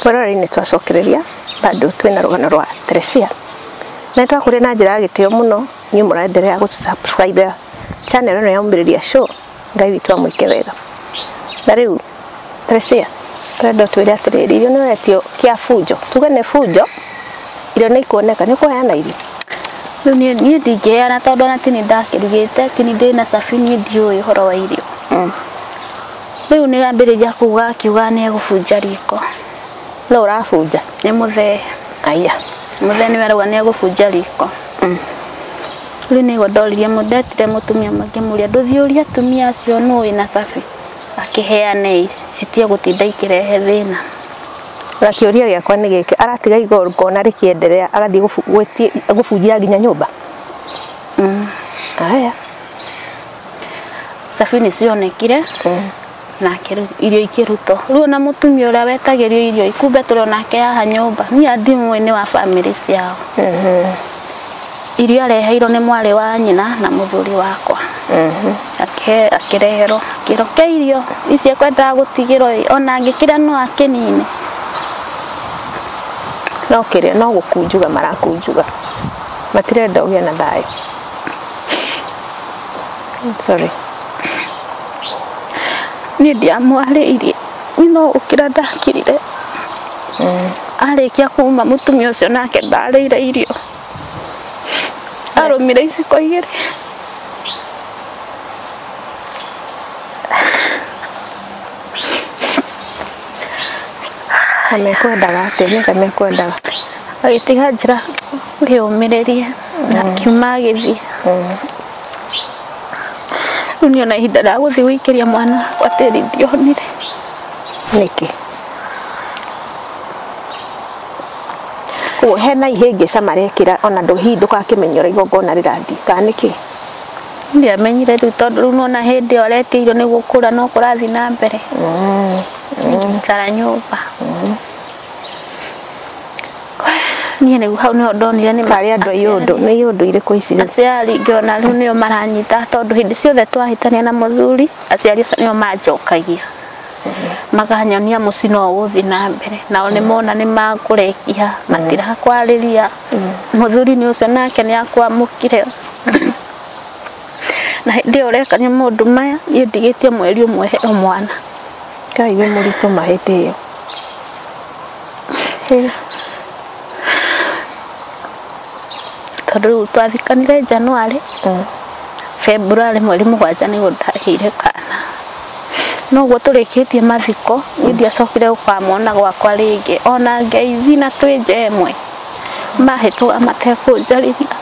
Kwĩroreinĩ twacokereria bado twĩna rũgano rwa Teresia na twakũrĩa na njĩra ya gĩtĩo mũno niĩ mũraenderea gũsubscribe channel ĩno ya Umĩrĩria Show Ngai witũ amwĩke wega na rĩu Teresia twenda twĩre atĩrĩrĩ irio nĩwetio kĩa bunjo tuge nĩ bunjo irio nĩ ikuoneka nĩ kũheana irio rĩu niĩ niĩ ndingĩheana tondũ ona tini ndakĩrugĩte tini ndĩ na cabi niĩ ndiũĩ ũhoro wa irio Rĩu nĩ ambĩrĩria kuuga akiuga nĩ egũbunja riko. Nũ ũrabunja? Nĩ mũthee. Aya. Mũthee nĩwe arauga nĩ egũbunja riko. Mm. Rĩu nĩguo ndoririe mũndũ ndetire mũtumia makĩmũria ndũthiĩ ũria atumia acio nũ wĩna cabi akĩheane citie gũtinda ikĩrehe thĩna. Na kĩũria gĩakwa nĩ gĩkĩ aratiga igor kona rĩkĩenderea agathiĩ gũbunjia nginya nyũmba? Mm. Aya. thabini cionekire nake rĩu irio ikĩrutwo rĩu ona mũtumia ũrĩa wetagĩrio irio kumbe tũrĩ onake haha nyũmba niĩ andimwe nĩ wa bamĩrĩ ciao irio areheirwo nĩ mwarĩ wa nyina na mũthuri wakwa Ake- akĩreherwo kĩro kĩa irio icio ekwendaga gũtigĩrwo ĩ, ona angĩkĩrĩa no akĩnine no kĩrĩa no gũkunjuga marakunjuga matirenda ũgĩe na thayũ sorry niĩ ndiamwarĩirie no ũkĩra ndakirire arĩkia kuma mũtumia ũcio nake ndarĩire irio arũmire iciko igĩrĩ amekwendaga atĩa nĩka mekwendaga agĩtiga njĩra ngĩũmĩrĩria na akiuma agĩthiĩ rĩu niĩ ona ihinda rĩa gũthiĩ gũikĩria mwana wakwa tĩri ndionire nĩkĩ koguo hena ihĩngĩca marekĩra ona ndũ- hihi ndũgakĩmenya ũrĩa igongona rĩrathiĩ kana nĩkĩ ndiamenyire rĩu tondũ rĩu nona hĩndĩ ĩyo aretigirwo nĩ gũkũra no kũrathiĩ na mbere ngĩikara nyũmba niä nä hau nä ndonire nä marä andå aiyå ndå nä iyå ndå irä kå ici aciari ngĩona rĩu nĩo maranyita tondå hĩndĩ ciothe twahĩtania na mũthuri aciari acio nĩo manjokagia makanyonia mũcino ũgũthiĩ na mbere nao nĩ mona nĩ makũrekia matirakwarĩria mũthuri nĩ ũcio nake nĩ akwamũkire na hĩndĩ ĩyo ũrekania maũndũ maya niĩ ndigĩtie mweri ũmwe heo mwana ngai nĩ må ritå mahä ndä ä yo tondũ rĩu twathikanire January February mweri mũgwanja nĩguo ndagĩire kana noguo tũrĩkĩtie mathiko niĩ ndiacokire gũkamwona gwakwa rĩngĩ ona ngeithi na twĩ nja ĩmwe mahĩtũga matekũnjarĩria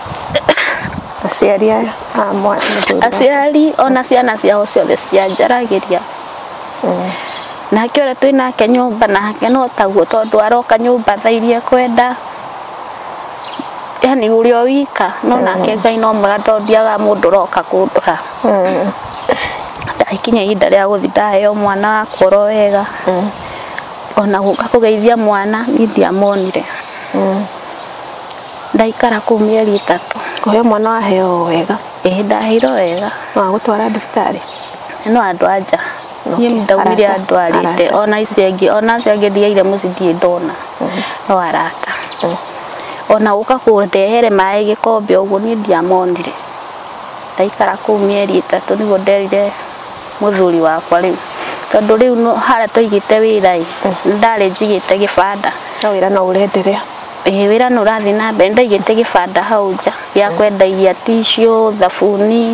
aciari aya a mwana mũthuri aciari ona ciana ciao ciothe citianjaragĩria nake ũrĩa twĩ nake nyũmba nake no taguo tondũ aroka nyũmba tha iria ekwenda yani ũrĩ o wika no nake ngai no mwega tondũ ndiaga mũndũ ũroka kũndora ndakinya ihinda rĩa gũthi ndaheo mwana wakwa oro wega ona gũka kũgeithia mwana niĩ ndiamonire Ndaikara kũu mĩeri ĩtatũ. Kũheo mwana waheo o wega. Ĩĩ ndaheirwo wega. No agũtwara thibitarĩ. No andũ a nja. Niĩ ndaumire andwarĩte. Ona icio angĩ, ona acio angĩ ndiaire mũciĩ ndirĩ ndona. No arata. Ona gũka kũndehere maĩ gĩkombe ũguo niĩ ndiamonire. Ndaikara kũu mĩeri ĩtatũ nĩguo nderire mũthuri wakwa rĩu. Tondũ rĩu harĩa twaigĩte wĩra-ĩ, nĩ ndarĩ njigĩte gĩbanda. No wĩra no ũrenderea. Ĩĩ wĩra nĩ ũrathiĩ na mbere, nĩ ndaigĩte gĩbanda hau nja gĩa kwendagia tissue, thabuni,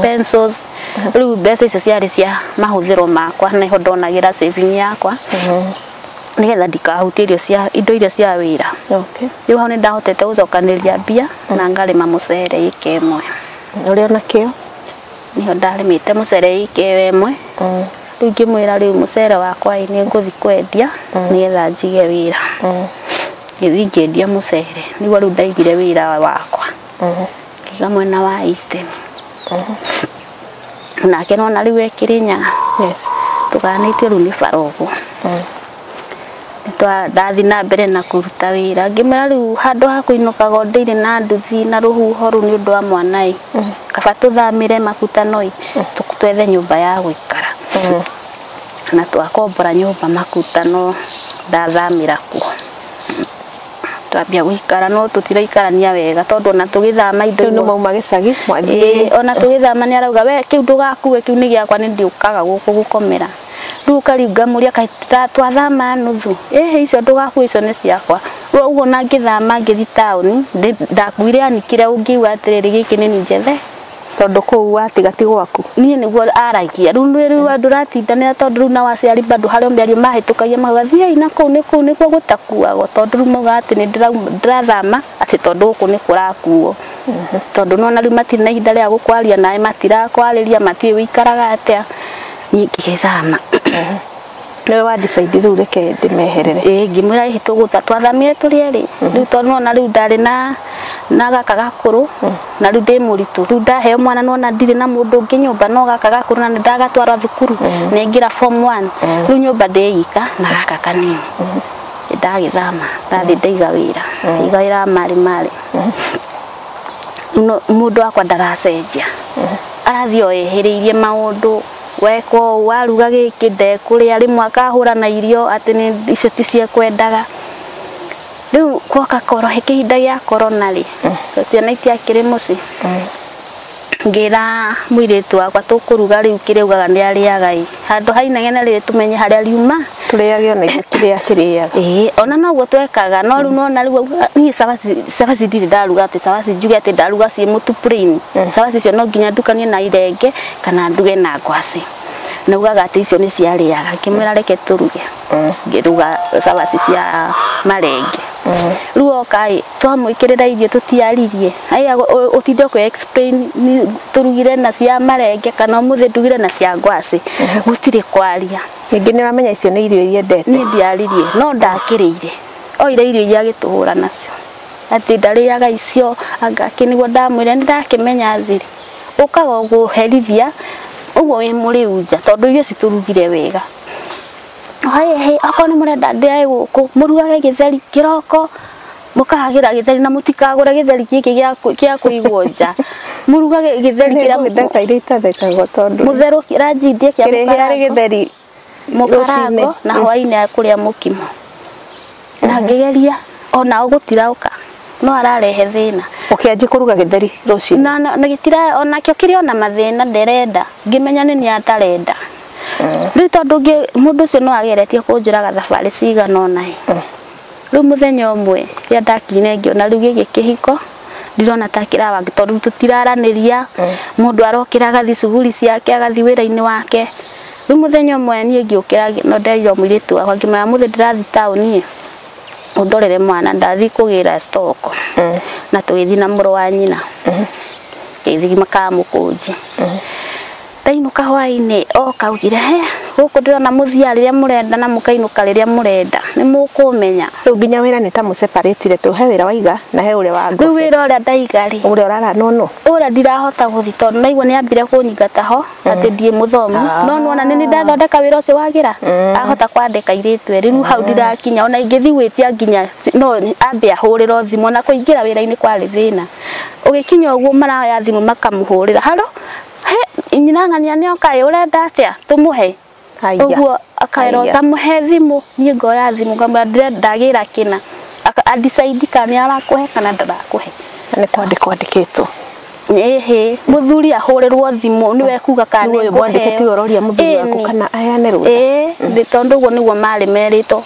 pencils. Rĩu mbeca icio ciarĩ cia mahũthĩro makwa nĩho ndonagĩra saving yakwa nĩgetha ndikahutie irio cia indo iria cia wĩra. Okay. Rĩu hau nĩ ndahotete gũcokanĩrĩria mbia na ngarĩma mũcere ĩka ĩmwe. Ũrĩ o na kĩo. Nĩho ndarĩmĩte mũcere ĩka ĩyo ĩmwe rĩu ngĩmwĩra rĩu mũcere wakwa ĩ nĩ ngũthiĩ kwendia nĩgetha njige wĩra ngĩthiĩ ngĩendia mũcere nĩguo rĩu ndaigire wĩra wakwa ngĩiga mwena wa Eastern nake nona rĩu e Kĩrĩnyaga tũgayanĩtio rĩu nĩ bara ũguo. ndathi na mbere na kũruta wĩra ngĩmera rĩu handũ ha kũinũkaga o ndĩirĩ na nduthi na rũhuho rũu nĩ ũndũ wa mwana ĩ mm. kaba tũthamĩre makutano ĩ mm. twethe nyũmba ya gũikara mm. na twakombora nyũmba makutano ndathamĩra kuo twambia guikara no tutiraikarania wega tondu ona tugithama indo no mauma gicagi mwanjie ona tugithama ni arauga we kiu ndugakue kiu ni giakwa ni ndiukaga guku gukomera rĩu kariu ngamũria kaĩ ta- twathama nuthu ĩhĩ icio ndũgakue icio nĩ ciakwa rĩu ũguo na ngĩthama ngĩthi taũni ndĩ- ndakuire anikire ũngiuga atĩrĩrĩ gĩkĩ nĩ njĩthe tondũ kũu watiga ti gwaku niĩ nĩguo aragia rĩu nĩ- rĩu andũ ũratindanĩra tondũ rĩu nao aciari bado harĩ o mĩario mahĩtũkagia mauga thiai na kũu nĩ kũu nĩkuo gũtakuagwo tondũ rĩu mauga atĩ nĩ ndĩrauma- ndĩrathama atĩ tondũ gũkũ nĩ kũrakuo tondũ nĩwona rĩu matirĩ na ihinda rĩa gũkwaria nawe matirakwarĩria matiũĩ ũikaraga atĩa niĩ ngĩgĩthama nĩwe wa decide rĩu reke ndĩmeherere ĩĩ ngĩmwĩra hihi tũgũtha twathamire tũrĩ erĩ rĩu tondũ nona rĩu ndarĩ na na gaka gakũrũ na rĩu ndĩ mũritũ rĩu ndaheo mwana nona ndirĩ na mũndũ ũngĩ nyũmba no gaka gakũrũ na ndagatwara thukuru na ingĩra form 1 rĩu nyũmba ndĩyika na gaka kanini ndagĩthama ndathiĩ ndaiga wĩra iga wĩra wa marĩ marĩ no- mũndũ wakwa ndaracenjia arathiĩ o ehĩrĩirie maũndũ weka ũũ waruga gĩkĩ ndekũrĩa rĩmwe akahũra na irio atĩ nĩ icio ticio ekwendaga rĩu gwoka koro he kĩhinda gĩa korona rĩ ciana itiakĩrĩ mũciĩ ngĩra mũirĩtu wakwa tũkũruga rĩu kĩrĩa ugaga nĩ arĩaga ĩ handũ ha inegene rĩrĩ tũmenye harĩa riuma tũrĩage ona ithuĩ kĩrĩa akĩrĩaga ĩĩ ona noguo twekaga no rĩu nona rĩu auga, niĩ cabaci cabaci ndirĩ ndaruga atĩ cabaci njuge atĩ ndaruga ciĩ mũtu plain cabaci icio no nginya ndukanie na irenge kana nduge na ngwacĩ na ugaga atĩ icio nĩ ciarĩaga ngĩmwĩra reke tũruge ngĩruga cabaci cia marenge rĩu oka ĩ twamwĩkĩrĩra irio tũtiaririe aiga ũtinde ũkĩ explain tũrugire na cia marenge kana ũmũthĩ ndugire na cia ngwacĩ gũtirĩ kwaria ningĩ nĩ wamenya icio nĩ irio iria ndete niĩ ndiaririe no ndakĩrĩire oire irio iria agĩtũhũra nacio atĩ ndarĩaga icio anga kĩ nĩguo ndamwĩra nĩ ndakĩmenya thiri ũkaga ũkũherithia ũguo wĩ mũrĩu nja tondũ irio ici tũrugire wega akorwo nĩ mũrenda ndĩage gũkũ mũrugage gĩtheri kĩroko. mũkahagĩra gĩtheri na mũtikagũre gĩtheri gĩkĩ gĩa kũ- gĩa kũigwo nja mũrugage gĩtheri kĩrĩa Nĩ mbeca iria itathekagwo tondũ mũtherũ ranji ndie kĩa kĩrĩhĩarĩ mũkarango gĩtheri mũkarango rũcinĩ. na hwainĩ ya kũrĩa mũkimo na ngĩgeria onao gũtiraũka no ararehe thĩna ũkĩanjia kũruga gĩtheri rũcinĩ na na- na gĩtira onakĩo kĩrĩ ona mathĩna nderenda ngĩmenya nĩ niĩ atarenda rĩu tondũ ngĩ- mũndũ ũcio no ageretie kũnjũraga thabarĩ cigana ona ĩ Rĩu mũthenya ũmwe rĩrĩa ndakirire ngĩona rĩu gĩkĩ kĩhiko ndirona ta kĩrawa tondũ tũtiraranĩria mm. mũndũ arokĩra agathiĩ cuguri ciake agathiĩ wĩra-inĩ wake rĩu mũthenya ũmwe niĩ ngĩũkĩra no nderire mũirĩtu wakwa ngĩmwĩra mũthĩ ndĩrathiĩ taũni ũndorere mwana ndathiĩ kũgĩra stock mm. na tũgĩthiĩ na mũrũ wa nyina mm. gĩthiĩ makamũkũnji Ndainũka hwaĩ-inĩ oka augire he gũkũ ndĩrona mũthiaga rĩrĩa mũrenda na mũkainũka rĩrĩa mũrenda nĩ mũkũmenya. Rĩu nginya wĩra nĩ ta mũ separate re tondũ he wĩra waiga na he ũrĩa wa ngobeti. Rĩu wĩra ũrĩa ndaiga rĩ. Ũrĩa ũrara no no. Ũrĩa ndirahota gũthiĩ tondũ naigua nĩ ambire kũnyingata ho atĩ ndirĩ mũthomu. No nĩ wona nĩ niĩ ndathondeka wĩra ũcio wagĩra ahota kwandĩka airĩtu erĩ. Rĩu hau ndirakinya ona ingĩthiĩ gwĩtia nginya no ambe ahũrĩrwo thimũ ona kũingĩra wĩra-inĩ kwarĩ thĩna. Ũgĩkinya ũguo maroya thimũ makamũhũrĩra haro. "Hĩ, nyina ng'ania nĩ oka ĩ, ũrenda atĩa tũmũhe?" Haiya. Ũguo akaĩrwo Haiya. tamũhe thimũ, niĩ ngoya thimũ ngamwĩra ndire ndagĩra kĩna. Aka- A decide kana nĩ arakũhe kana ndarakũhe. Na nĩ kwandĩkwo andĩkĩtwo. Ĩhĩ, mũthuri ahũrĩrwo thimũ nĩwe ekuga kana Nĩwe ũyũ nĩngũheo. mwandĩke tiwe ũroria mũthuri waku Ĩni. kana aheane rũtha. Ĩĩ, nĩ tondũ ũguo nĩguo marĩ merĩtwo.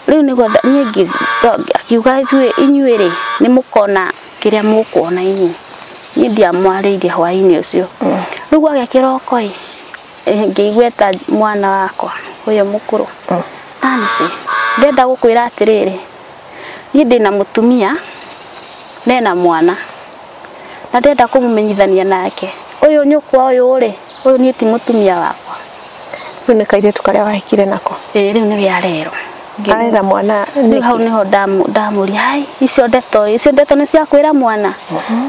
Rĩu nĩguo nda- niĩ ngĩ- akiuga ithuĩ inyuĩ-rĩ, nĩ mũkona kĩrĩa mũkuona inyuĩ niĩ ndiamwarĩire hwaĩ-inĩ ũcio rĩu gwagĩa kĩroko ĩ eh, ngĩigua eta mwana wakwa ũyũ mũkũrũ Nancy ndenda gũkwĩra atĩrĩrĩ niĩ ndĩ na mũtumia na ena mwana na ndenda kũmũmenyithania nake ũyũ nyũkwa ũyũ rĩ ũyũ niĩ ti mũtumia wakwa rä u nä kairä tu karä a wahikire nako ĩĩ rĩu nĩ arerwo arera mwana rĩu hau nĩho ndamu- ndamũria hai icio ndeto icio ndeto nĩ cia kwĩra mwana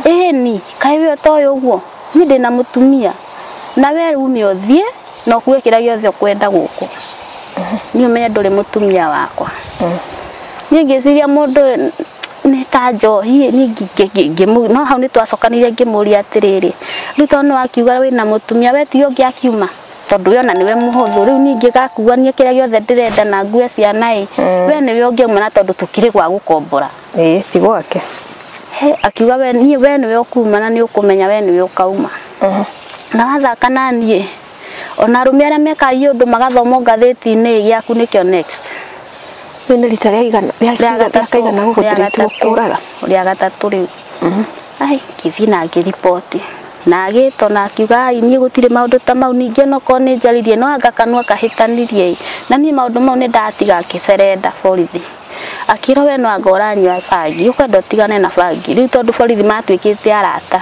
ĩni kaĩ we ũtoĩ ũguo niĩ ndĩ na mũtumia na we ume ũthiĩ na ũkue kĩrĩa gĩothe ũkwenda gũkũ niĩ ũmenye ndũrĩ mũtumia wakwa niĩ ngĩciria mũndũ ũyũ nĩ ta njohi niĩ ngi- ngi- ngi- ngĩmũ- no hau nĩ twacokanire ngĩmũria atĩrĩrĩ rĩu tondũ nĩ wakiuga wĩna mũtumia we ti ũngĩ akiuma tondũ we ona nĩwe mũhũthũ rĩu ningĩ gakuania kĩrĩa gĩothe ndĩrenda na ngue ciana ĩ we nĩwe ũngĩauma na tondũ tũkirĩ gwa gũkombora ĩĩ ti gwake He, akiuga we niĩ we nĩwe ũkuma na nĩ ũkũmenya we nĩwe ũkauma na wathaka na niĩ ona arũme arĩa mekaga iũndũ magathoma ngathĩti-inĩ gĩaku nĩkĩo next Rĩu nĩ rita rĩa igana rĩa rĩa rĩa kaigana gũkũ rĩa ndĩrĩtwo gatatũ kũraga. rĩa gatatũ rĩu ai ngĩthiĩ na ngĩriboti na agĩtwo na akiuga "Ai, niĩ gũtirĩ maũndũ ta mau ningĩ onokorwo nĩ njaririe no anga kanua kahĩtanirie ĩ na niĩ maũndũ mau nĩ ndatiga ngĩcerenda borithi akĩrwo we no anga ũranyua bangi ũkwenda ũtigane na bangi rĩu tondũ borithi matuĩkĩte arata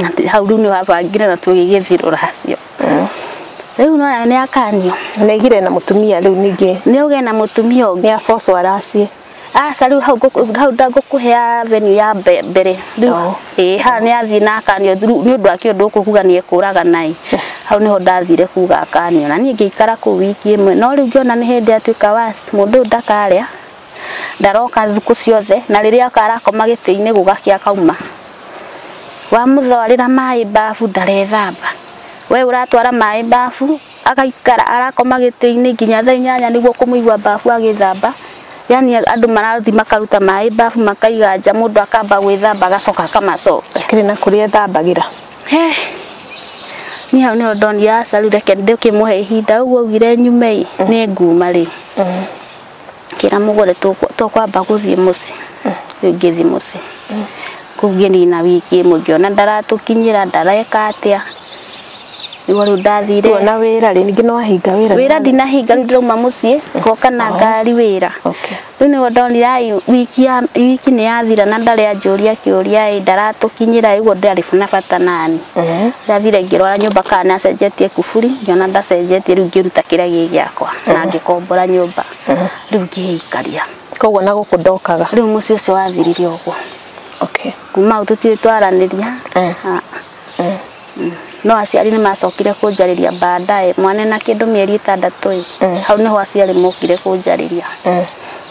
na ti- hau rĩu nĩ wabangire na tũgĩgĩthiĩ rũracio rĩu no nayo nĩ akanio negire na mũtumia rĩu ningĩ nĩ ũgĩe na mũtumia ũngĩ nĩ abocwo araciĩ aca rĩu hau ngũkũ- hau ndangũkũhea venue ya mbe- mbere rĩu Oo. ĩĩ haha nĩ athiĩ na akanio through- nĩ ũndũ wa kĩũndũ gũkũ kuga nĩ ekũraga naĩ hau nĩho ndathire kuga akanio na niĩ ngĩikara kũu wiki ĩmwe no rĩu ngĩona nĩ hĩndĩ atuĩka was mũndũ ũyũ ndakarĩa ndaroka thukũ ciothe na rĩrĩa akarakoma gĩtĩ-inĩ gũgakĩa kauma wamũtwarĩra maĩ mbabu ndarethamba we ũratwara maĩ mbabu agaikara arakoma gĩtĩ-inĩ nginya thaa inyanya nĩguo kũmũigua mbabu agĩthamba yani andũ marathiĩ makaruta maĩ mbabu makaiga nja mũndũ akamba gwĩthamba agacoka akamacoka kĩrĩ na kũrĩa ethambagĩra Eh, niĩ hau nĩho ndonire aca rĩu reke ndĩkĩmũhe ihinda ũguo augire nyume-ĩ nĩ nguma rĩu ngĩra mũgũre tũkwamba gũthiĩ mũciĩ rĩu ngĩthiĩ mũciĩ kũu ngĩnina wiki ĩmwe ngĩona ndaratũkinyĩra ndareka atĩa nĩguo rĩu ndathire Kuona wĩra rĩ, ningĩ nĩ wahinga wĩra. wĩra ndinahinga rĩu ndĩrauma mũciĩ ngoka na ngari wĩra Okay. rĩu nĩguo ndonire ai wiki ya- wiki nĩ yathira na ndarĩ anjũria kĩũria ĩ ndaratũkinyĩra ĩ, ũguo ndarĩ na bata nani Eh, ndathire ngĩrora nyũmba kana nĩ acenjetie kuburi ngĩona ndacenjetie rĩu ngĩruta kĩrĩa gĩ gĩakwa na ngĩkombora nyũmba rĩu ngĩĩikaria koguo na gũkũ ndokaga rĩu mũciĩ ũcio wathirire ũguo okay. kuma hau tũtirĩ twaranĩria Eh. Ah. Mm. no aciari nĩ macokire kũnjarĩria baadaye mwana na kĩndũ mĩeri ĩtandatũ ĩ Mm. hau nĩho aciari mokire kũnjarĩria Mm.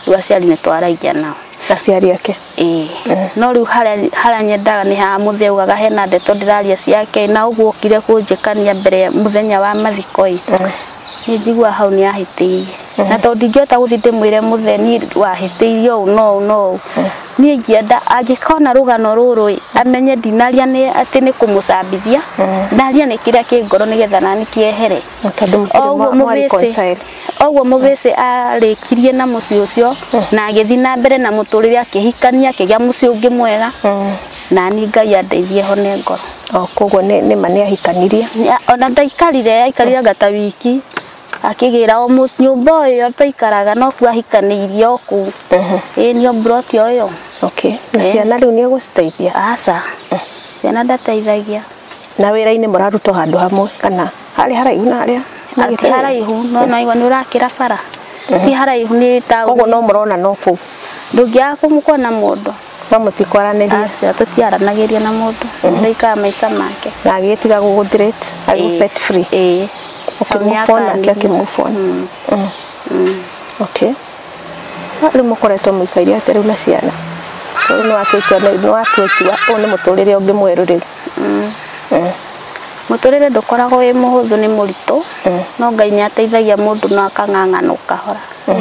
rĩu aciari nĩ twaragia nao aciari ake Ĩĩ. No rĩu harĩa harĩa nyendaga nĩ haha mũthĩ augaga hena ndeto ndĩraria ciake na ũguo ũkire kũnjĩkania mbere ya mũthenya wa mathiko ĩ. Nĩ njiguaga hau nĩ ahĩtĩirie. Na tondũ ndingĩhota gũthiĩ ndĩmwĩre mũthĩ niĩ wahĩtĩirie ũũ na ũũ na ũũ. Niĩ ingĩenda angĩkona rũgano rũrũ ĩ, amenye ndinaria nĩ atĩ nĩ kũmũcambithia, ndaria nĩ kĩrĩa kĩ ngoro nĩgetha naniĩ kĩehere. Na tondũ mũtirĩ mwa mwa reconcile. Oguo Mũgĩcĩ arĩkirie na mũciĩ ũcio na agĩthiĩ na mbere na mũtũrĩre akĩhikania akĩgĩa mũciĩ ũngĩ mwega na niĩ Ngai andeithie hone ngoro. O koguo nĩ nĩ ma nĩ ahikanirie. Ya- Ona ndaikarire aikarire anga ta wiki akĩgĩra o mũ- nyũmba o ĩyo twaikaraga no kuo ahikanĩirie o kũu ĩĩ nĩ o mburoti o ĩyo Okay. Na Eh. ciana rĩu nĩ ũgũciteithia? aca ciana ndateithagia Na wĩra-inĩ mũraruta o handũ hamwe kana? harĩ haraihu na harĩa na ti haraihu no no igua nĩ ũrakĩra bara ti haraihu nĩ taũni koguo no mũrona no kũu ndũngĩaga kũmũkona mũndũ no mũtikwaranĩria acha tũtiaranagĩria na mũndũ mũndũ aikaga maica make na agĩtiga gũgũthirĩte agĩ set free ĩĩ ũkĩmũbona nake akĩmũbona okay No rĩu mũkoretwo mũikaire atĩa rĩu na ciana rĩu nĩ watua itua nĩ watua itua ũyũ nĩ mũtũrĩre ũngĩ mwerũ rĩu Eh. Mũtũrĩre ndũkoragwo wĩ mũhũthũ nĩ mũritũ eh. no Ngai nĩ ateithagia mũndũ na akang'ang'ana ũkahora eh.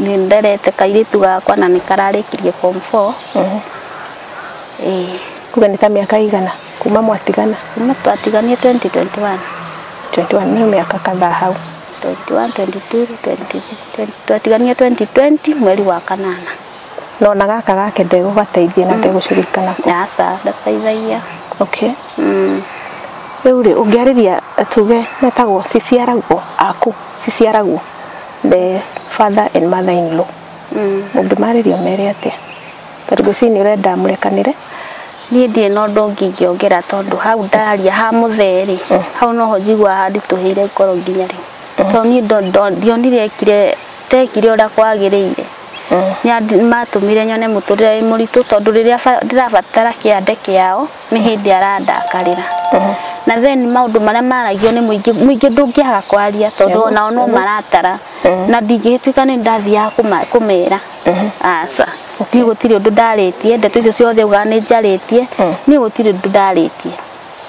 nĩ nderete kairĩtu gakwa na nĩ kararĩkirie form 4 kuga nĩ ta mĩaka igana kuma mwatigana kuma twatiganie 2021 21 nĩ mĩaka kadhaa hau 21 22 23 twatiganie 2020 mweri wa kanana No na gaka gake ndegũgateithia na ndegũcurika nako. Aca, ndateithagia. Okay. Mm. Rĩu rĩ ũngĩarĩria tuge metagwo ciciaragwo aku ciciaragwo the father and mother in law. Mm. Ũngĩmarĩria ũmere atĩa? Tondũ ngwĩciria nĩ ũrenda mũrekanĩre. Niĩ ndirĩ na ũndũ ũngĩ ingĩongera tondũ hau ndaria ha mũtherĩ mm. hau noho njigua handitũhĩire ngoro nginya rĩu. Mm. Tondũ niĩ ndionire ekire tekire ũrĩa kwagĩrĩire. Yandi- matũmire nyone mũtũrĩre wĩ mũritũ tondũ rĩrĩa ba- ndĩrabatara kĩande kĩao nĩ hĩndĩ arandakarĩra na then maũndũ marĩa maragio nĩ mũingĩ mũingĩ ndũngĩaga kwaria tondũ onao no maratara na ndingĩgĩtuĩka nĩ ndathiaga kũma- kũmera aca niĩ gũtirĩ ũndũ ndarĩtie ndeto icio ciothe ugaga nĩ njarĩtie niĩ gũtirĩ ũndũ ndarĩtie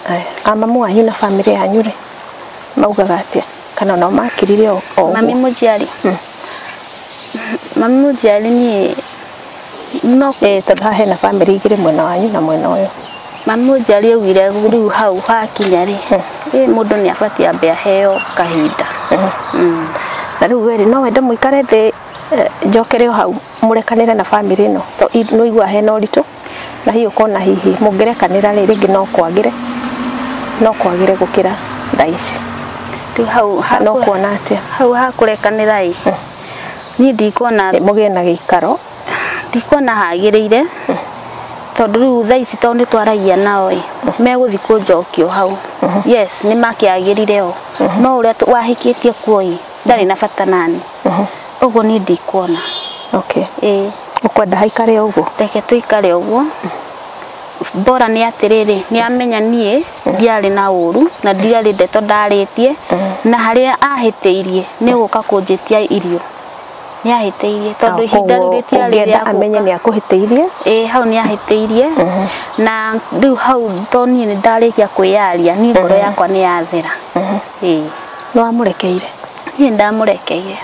Aya, a mamu wanyu na bamĩrĩ yanyu rĩ maugaga atĩa kana nao makirire o o ũguo? mami mũnjiari Mami mũnjiari niĩ no Eh, tondũ haha hena bamĩrĩ igĩrĩ mwena wanyu na mwena ũyũ mami mũnjiari augire rĩu hau hakinya rĩ ĩ mũndũ nĩ abatiĩ ambe aheo kahinda Mm. na rĩu weri no wende mũikare thĩ eh, njokere o hau mũrekanĩre na bamĩrĩ ĩno to i- nĩũiguaga hena ũritũ Na hihi ũkona hihi mũngĩrekanĩra rĩ rĩngĩ no kwagĩre no kwagĩre gũkĩra thaa ici rĩu hau ha- no kuona atĩa hau ha kũrekanĩra ĩ niĩ ndikuona Ĩ, mũgĩe na gĩikaro ndikuona hagĩrĩire tondũ rĩu thaa ici tondũ nĩ twaragia nao ĩ megũthiĩ kũnjokio hau yes nĩ makĩagĩrire o no ũrĩa tũ- wahĩkĩtie kuo ĩ ndarĩ na bata nani ũguo niĩ ndikuona okay ĩĩ ukwenda haikare uguo reke tuikare uguo bora nĩ atĩrĩrĩ nĩ amenya niĩ ndiarĩ na ũru na ndiarĩ ndeto ndarĩtie na harĩa ahĩtĩirie nĩ gũka kũnjĩtia irio nĩ ahĩtĩirie tondũ ihinda rĩu rĩtiarĩ rĩa ũngĩenda amenye nĩ gũka akũhĩtĩirie ĩĩ hau nĩ ahĩtĩirie na rĩu hau to niĩ nĩ ndarĩkia kwĩyaria niĩ ngoro yakwa nĩ yathera Ĩĩ. nĩ wamũrekeire niĩ ndamũrekeire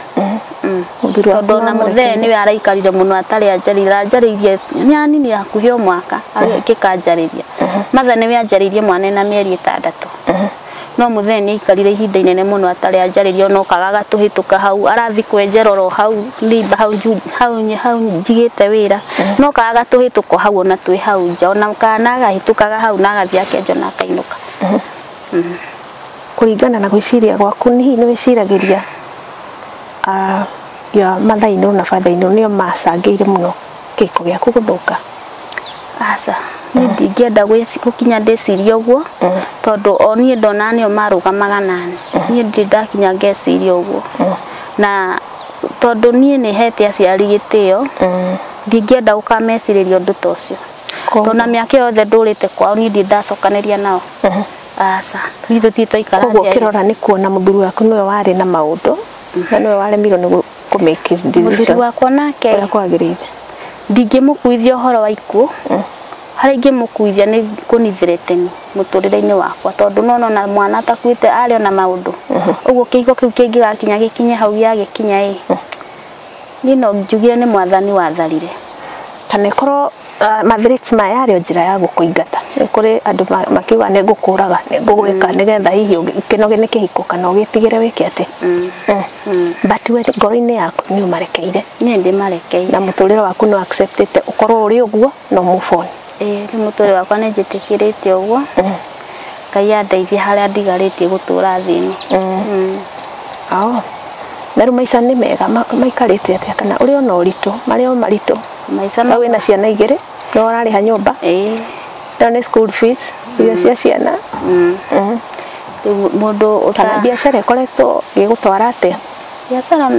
Mm. Mũthuri waku tondũ ona nĩwamũrekeire. mũthee nĩwe araikarire mũno atarĩ anjarĩire anjarĩirie nĩ anini hakuhĩ o mwaka agĩkĩka anjarĩria matha nĩwe anjarĩirie mwana ena mĩeri ĩtandatũ no mũthee nĩ aikarire ihinda inene mũno atarĩ anjarĩria ona okaga agatũhĩtũka hau arathiĩ kwenjera oro hau nĩmba hau nju- hau nyi- hau njigĩte wĩra no okaga agatũhĩtũka o hau ona twĩ hau nja ona kana agahĩtũkaga hau na agathiĩ akenja na akainũka kũringana na gwĩciria gwaku nĩ hihi nĩ wĩciragĩria ah, ya mathainũ na bathainũ nĩo macangĩire mũno kĩhiko gĩaku gũthũka aca niĩ ndingĩenda gwĩci- gũkinya ndĩcirie ũguo tondũ o niĩ ndona nĩo marũgamaga nani niĩ ndirĩ ndakinya ngeciria ũguo na tondũ niĩ nĩ hete aciari gĩtĩo ndingĩenda gũkamecirĩria ũndũ ta ũcio Koguo- tondũ na mĩaka yothe ndũrĩte kwao niĩ ndirĩ ndacokanĩria nao aca ithuĩ tũtirĩ twaikara koguo thĩ ya ũkĩrora nĩ kuona mũthuri waku nĩwe warĩ na maũndũ na nĩwe waremirwo nĩ kũ make his mũthuri decision wakwa nake ũrĩa kwagĩrĩire ndingĩmũkuithia ũhoro wa ikuũ harĩa ingĩmũkuithia nĩ kũnithĩre tene mũtũrĩre-inĩ wakwa tondũ nona ona mwana atakuĩte arĩ ona maũndũ ũguo kĩhiko kĩu kĩngĩgakinya gĩkinye hau gĩagĩkinya ĩ niĩ no njugire nĩ mwathani watharire kana ĩkorwo ah, mathreats maya yarĩ o njĩra ya gũkũingata nĩ kũrĩ andũ ma- makiuga nĩ ngũkũraga nĩ ngũgwĩka nĩgetha hihi ũgĩ- ũkĩnoge nĩ kĩhiko kana ũgĩtigĩre wĩke atĩ Eh, but we ngoro-inĩ yaku nĩ ũmarekeire nĩ ndĩmarekeire na mũtũrĩre waku nĩ acceptĩte ũkorwo ũrĩ ũguo no move on ĩĩ rĩu mũtũrĩre wakwa nĩ njĩtĩkĩrĩte ũguo ngai andeithie harĩa ndigarĩtie gũtũra thĩ ĩno Mm. Ao. na rĩu maica nĩ mega ma- maikarĩte atĩa kana ũrĩ ona ũritũ marĩ o maritũ maica na no wĩna ciana igĩrĩ no ũrarĩha nyũmba ĩĩ no nĩ school fees irio cia ciana Mm. Mhm. rĩu mũndũ kana ũta biacara ĩkoretwo gĩgũtwara atĩa biacara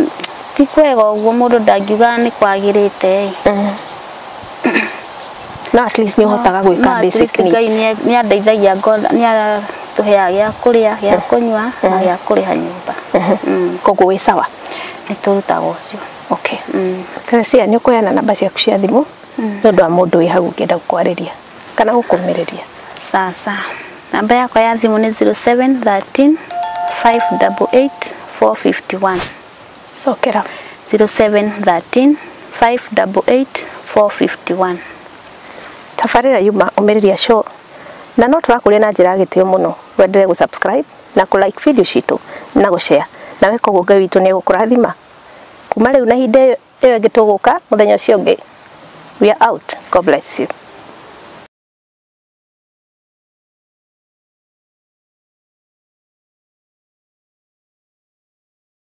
ti kwega ũguo mũndũ ndangiuga nĩ kwagĩrĩte ĩ no at least nĩ ũhotaga gwĩka No, at basic least needs. Ngai nĩ- nĩ andeithagia ngona- nĩ atũheaga gĩa kũrĩa gĩa kũnyua na gĩa kũrĩha nyũmba Mm, koguo wĩ sawa nĩ tũrutaga ũcio okay Mm. Teresia nĩ ũkũheana namba ciaku cia thimũ nĩ ũndũ wa mũndũ wĩ hau ũngĩenda gũkwarĩria kana gũkũmĩrĩria sasa namba yakwa ya thimũ nĩ 0713 588 451 cokera 0713 588 451 tabarĩra yuma ũmĩrĩria show na no tũrakũria na njĩra ya gĩtĩo mũno wendere gũ subscribe na kũ like video citũ na gũ share na weka ũguo ngai witũ nĩ egũkũrathima kuma rĩu na hinde ĩyo ĩngĩ tũgũka mũthenya ũcio ũngĩ we are out god bless you